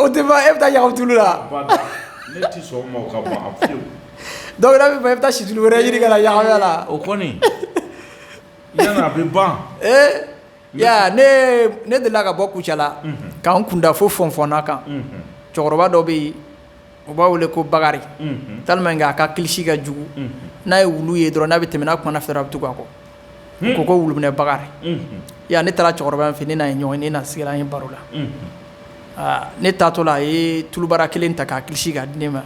tɛ e bɛ taa ɲagami tulu la donc e bɛ taa situlu wɛrɛ ɲini ka ɲagami a la o kɔni a bɛ ban ne delila ka bɔ Kucala k'an kunda fo Fɔnfɔnna kan cɛkɔrɔba dɔ bɛ yen u b'a wele ko Bakari tellement que a ka kilisi ka jugu n'a ye wulu ye dɔrɔn n'a bɛ tɛmɛ n'a kumana a fɛ dɔrɔn a bɛ tugu a kɔ ko ko wuluminɛ Bakari yan ne taara cɛkɔrɔba in fɛ ne n'a ye ɲɔgɔn ye ne n'a sigila an ye baro la aa ne taatɔla a ye tulubara kelen ta k'a kilisi k'a di ne ma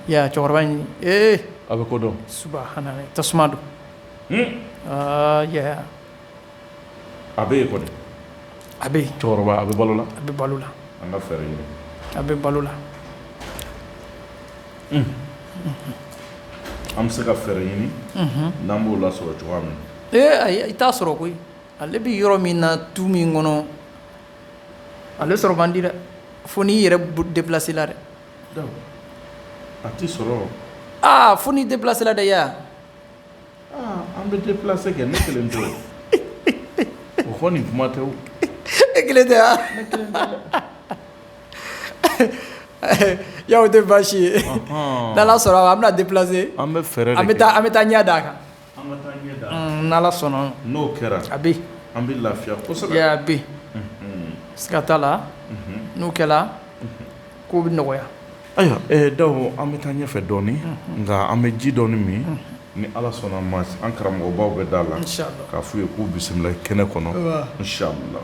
cɛkɔrɔba in ee a bɛ ko dɔn subahana tasuma don a bɛ yen kɔni, a bɛ yen, cɛkɔrɔba a bɛ balo la, a bɛ balo la, an ka fɛɛrɛ ɲini, a bɛ balo la, unhun, an bɛ se ka fɛɛrɛ ɲini, unhun, n'an b'o lasɔrɔ cogoya min na, ee ayi i t'a sɔrɔ koyi, ale bɛ yɔrɔ min na tu min kɔnɔ, ale sɔrɔ man di dɛ, fo n'i yɛrɛ déplacé la dɛ, donc a tɛ sɔrɔ, aa fo n'i déplacé la dɛ i y'a ye wa An bɛ déplacé kɛ ne kelen tɛ o kɔni kuma tɛ e kelen tɛ a tɛ baasi ye n'ala sɔnna an bɛna déplacé an bɛ fɛɛrɛ an bɛ taa an bɛ taa ɲɛ d'a kan n'ala sɔnna n'o kɛra a bɛ an bɛ lafiya kosɛbɛ siga t'a la n'o kɛla ko bɛ nɔgɔya Ayiwa Dawo an bɛ taa ɲɛfɛ dɔɔnin nka an bɛ ji dɔɔnin min ni ala sɔnna ma an karamɔgɔbaw bɛ da la k'a f'u ye k'u bisimila kɛnɛ kɔnɔ inshallah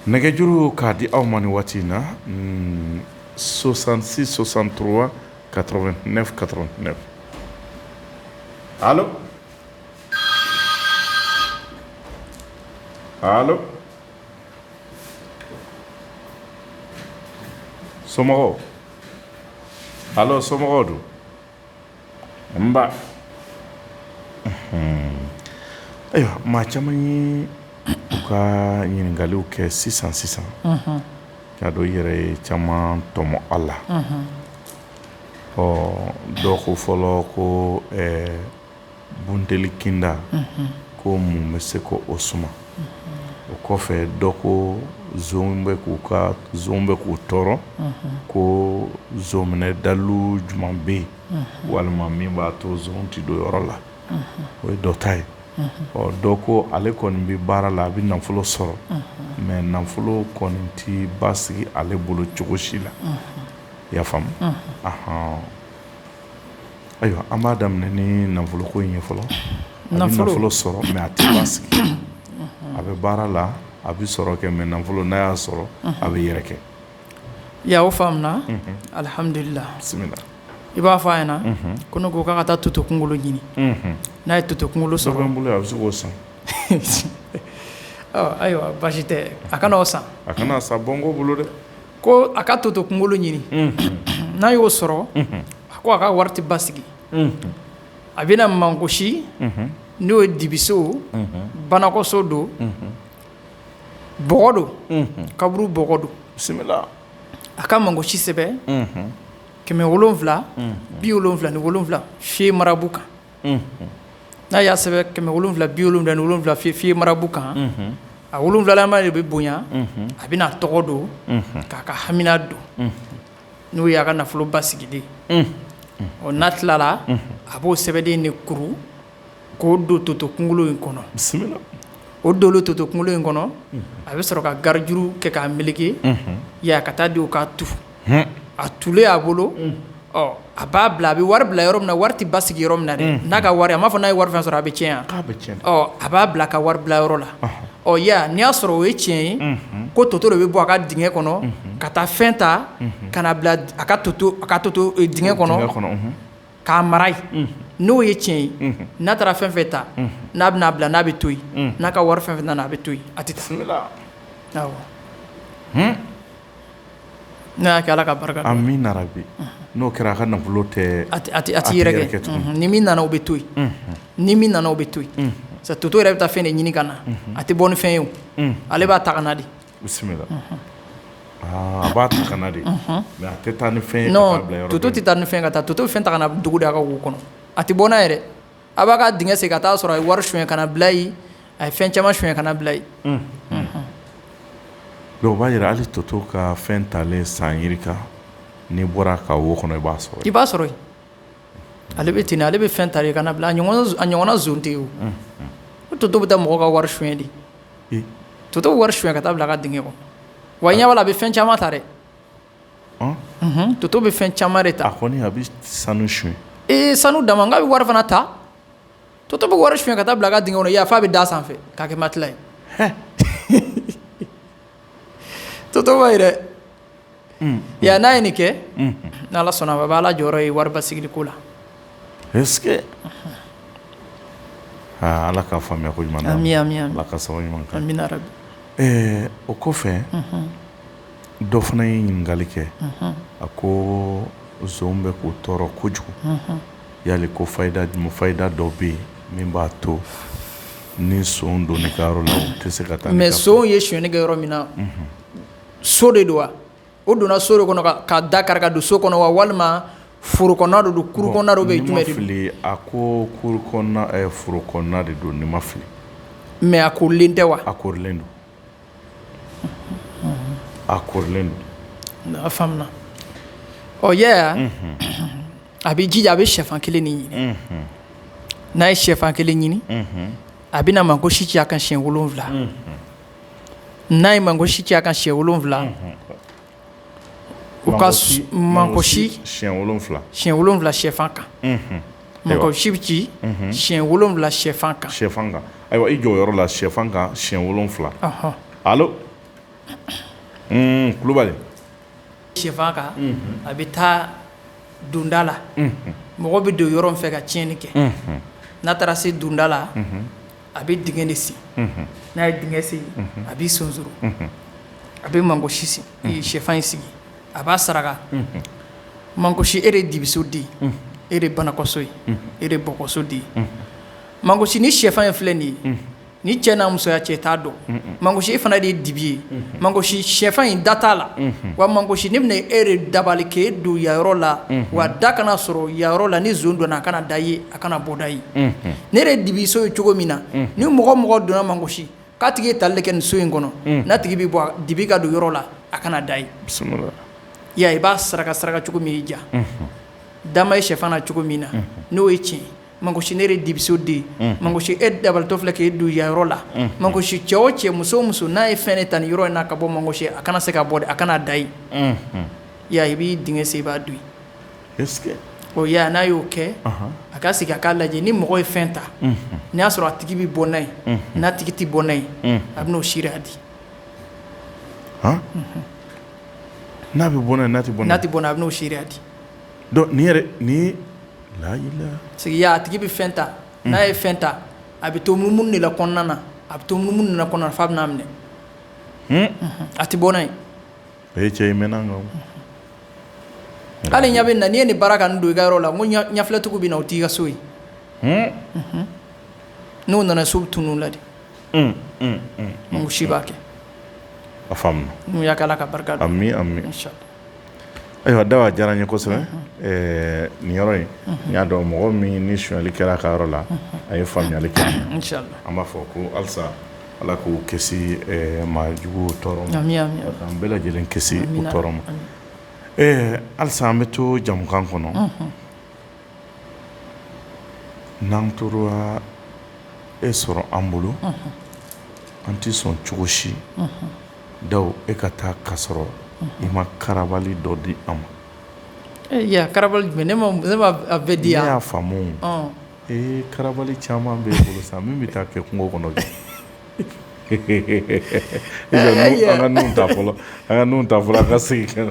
nɛgɛjuru k'a di aw ma ni waati in na soixante-six soixante-trois quatre-vingt-neuf quatre-vingt-neuf somɔgɔw allo somɔgɔw don nba ayiwa maa caman ye u ka ɲininkaliw kɛ sisan sisan k'a dɔn i yɛrɛ ye caman tɔmɔ a la ɔ dɔw ko fɔlɔ ko bunteli kinda ko mun bɛ se k'o suma o kɔfɛ dɔ ko zon bɛ k'u ka zon bɛ k'u tɔɔrɔ ko zon minɛ dalu jumɛn bɛ yen walima min b'a to zon tɛ don yɔrɔ la o ye dɔ ta ye ɔ dɔ ko ale kɔni bɛ baara la a bɛ nafolo sɔrɔ mɛ nafolo kɔni tɛ basigi ale bolo cogo si la i y'a faamu ah Ayiwa an b'a daminɛ ni nafolo ko in ye fɔlɔ a bɛ nafolo sɔrɔ mɛ a tɛ basigi a bɛ baara la a bɛ sɔrɔ kɛ mɛ nafolo n'a y'a sɔrɔ a bɛ yɛrɛkɛ i y'a faamuya alihamdulila i b'a fɔ a ɲɛna ko ne ko a ka taa toto kunkolo ɲini n'a ye toto kunkolo sɔrɔ n bolo a bɛ se k'o san ayiwa baasi tɛ a ka n'a san a ka n'a san bɔ n' bolo dɛ Ko a ka toto kunkolo ɲini n'a y'o sɔrɔ a ko a ka wari tɛ basigi a bɛna mangosi n'o ye dibiso banakɔso don bɔgɔ don kaburu bɔgɔ don bisimila a ka mangosi sɛbɛn kɛmɛ wolonwula bi wolonwula ni wolonwula fiye marabu kan n'a y'a sɛbɛn kɛmɛ wolonwula bi wolonwula ni wolonwula fi fiye marabu kan a wolonwulama de bɛ bonya a bɛna tɔgɔ don k'a ka hamina don n'o y'a ka nafolo basigi de ɔ n'a tilala a b'o sɛbɛnden de kuru k'o don toto kunkolo in kɔnɔ o don toto kunkolo in kɔnɔ a bɛ sɔrɔ ka garijuru kɛ k'a meleke yaa ka taa di k'a tu a tulen a bolo a b'a bila a bɛ wari bila yɔrɔ min na wari tɛ basigi yɔrɔ min na dɛ n'a ka wari a m'a fɔ n'a ye wari fɛn sɔrɔ a bɛ cɛn a b'a bila a ka wari bila yɔrɔ la ɔ ya n'i y'a sɔrɔ o ye tiɲɛ ye ko toto de bɛ bɔ a ka dingɛ kɔnɔ ka taa fɛn ta ka na bila a ka toto dingɛ kɔnɔ k'a mara yen n'o ye tiɲɛ ye n'a taara fɛn fɛn ta n'a bɛna a bila n'a bɛ to yen n'a ka wari fɛn fɛn nana a bɛ to yen a tɛ ala ka barika amiina yarabi n'o kɛra a ka nafolo tɛ a tɛ yɛrɛkɛ ni min nana o bɛ to yen ni min nana o bɛ to yen sa toto yɛrɛ bɛ taa fɛn de ɲini ka na a tɛ bɔ ni fɛn ye o ale b'a ta ka na de bisimila a b'a ta ka na de mɛ a tɛ taa ni fɛn ye toto tɛ taa ni fɛn ka taa toto bɛ fɛn ta ka na dugu de a ka wo kɔnɔ a tɛ bɔ n'a yɛrɛ A b'a ka dingɛ sen ka taa a sɔrɔ a ye wari suɲɛ ka na bila yen a ye fɛn caman suɲɛ ka na bila yen dɔnki o b'a jira hali toto ka fɛn talen san yiri kan n'i bɔra ka wo kɔnɔ i b'a sɔrɔ i b'a sɔrɔ ale bɛ ten ale bɛ fɛn ta ka na bila a ɲɔgɔnna zon tɛ yen o toto bɛ taa mɔgɔ ka wari suɲɛ de toto bɛ wari suɲɛ ka taa bila a ka dingɛ kɔnɔ wa i ɲa b'a la a bɛ fɛn caman ta dɛ toto bɛ fɛn caman de ta, a kɔni a bɛ sanu suɲɛ, ee sanu dama n k'a bɛ wari fana ta, toto bɛ wari suɲɛ ka taa bila a ka dingɛ kɔnɔ yan f'a bɛ d'a sanfɛ k'a kɛ matila ye, hɛɛ, toto b'a ye dɛ, unhun, y'a ye n'a ye nin kɛ, unhun, ni Ala sɔnna a ma a b'a la jɔyɔrɔ ye wari basigili ko la, est-ce que aa Ala ka faamuya ko ɲuman d'an ma, amin, amin, amin, Ala ka sababu ɲuman k'an ye, amina yarabi, ɛɛ o kɔfɛ, unhun dɔ fana ye ɲininkali kɛ a ko zon bɛ k'u tɔɔrɔ kojugu yali ko fayida dɔ bɛ yen min b'a to ni son donn'i ka yɔrɔ la o tɛ se ka taa mɛ son ye sonyɛni kɛ yɔrɔ min na so de don wa o donna so de kɔnɔ ka da kari ka don so kɔnɔ wa walima foro kɔnɔna de don kuru kɔnɔna de bɛ fili a ko foro kɔnɔna de don ni ma fili mɛ a koorilen tɛ wa a koorilen don A koorilen don a faamuna ɔ yɛ a bɛ jija a bɛ shɛfan kelen de ɲini n'a ye shɛfan kelen ɲini a bɛna mangosi ci a kan siyɛn wolonwula n'a ye mangosi ci a kan siyɛn wolonwula u ka mangosi siyɛn wolonwula siyɛn wolonwula shɛfan kan mangosi bɛ ci siyɛn wolonwula shɛfan kan shɛfan kan ayiwa i jɔ o yɔrɔ la shɛfan kan siyɛn wolonwula kulubali shɛfan kan a bɛ taa donda la mɔgɔ bɛ don yɔrɔ min fɛ ka tiɲɛni kɛ n'a taara se donda la A bɛ dingɛ de sen n'a ye dingɛ sen a b'i sonsoro a bɛ mangosi shɛfan in sigi a b'a saraka mangosi e de dibiso den e de banakɔso ye e de bɔkɔso den mangosi ni shɛfan in filɛ nin ye ni cɛ n'a musoya cɛ t'a dɔn mangosi e fana de ye dibi ye mangosi shɛfan in da t'a la wa mangosi ne bɛna e de dabali kɛ e don yayɔrɔ la wa da kana sɔrɔ yayɔrɔ la ni zon donna a kana da ye a kana bɔda ye ne de dibiso ye cogo min na ni mɔgɔ mɔgɔ donna mangosi k'a tigi ye tali kɛ nin so in kɔnɔ n'a tigi bɛ bɔ dibi ka don yɔrɔ la a kana da ye ya i b'a saraka saraka cogo min y'i diya da ma ye shɛfan na cogo min na n'o ye tiɲɛ mangosi ne dibiso den mangosi e dabalitɔ filɛ k'i don ya yɔrɔ la mangosi cɛ o cɛ muso o muso n'a ye fɛn de ta nin yɔrɔ in na ka bɔ mangosi a kana se ka bɔ a kana da ye ya i b'i dingɛ sen i b'a don n'a y'o kɛ a ka sigi a k'a lajɛ ni mɔgɔ ye fɛn ta n'i y'a sɔrɔ a tigi bɛ bɔ n'a ye n'a tigi tɛ bɔ n'a ye a bɛ'o si di n'a bɛ bɔn tɛ bɔn tɛ bɔn a bɛ'o si di sigi a tigi bɛ fɛn ta n'a ye fɛn ta a bɛ to munumunu de la kɔnɔna na a bɛ to munumunu de la kɔnɔna na f'a bɛn'a minɛ a tɛ bɔ n'a ye A ye cɛ in mɛnna nka hali ɲa bɛ na n'i ye nin baara ka don i ka yɔrɔ la n ko ɲafilɛtigiw bɛ na o t'i ka so ye n'u nana so bɛ tunun u la de si b'a kɛ a faamuna n'u y'a kɛ Ala ka barika don ami ayiwa Dawu a diyara n ye kosɛbɛ nin yɔrɔ in n y'a dɔn mɔgɔ min ni sonyali kɛra a ka yɔrɔ la a ye faamuyali kɛ inchallah an b'a fɔ ko alisa Ala k'u kisi maa juguw tɔɔrɔ ma an bɛɛ lajɛlen kisi u tɔɔrɔ ma ɛɛ alisa an bɛ to jamukan kɔnɔ n'an tora e sɔrɔ an bolo an tɛ sɔn cogo si Dawu e ka taa ka sɔrɔ i ma karabali dɔ di an ma karabali jumɛn ne m'a bɛɛ di n y'a faamu Ee karabali caman bɛ e bolo sa min bɛ taa kɛ kungo kɔnɔ an ka nin ta fɔlɔ an ka nin ta fɔlɔ an ka segin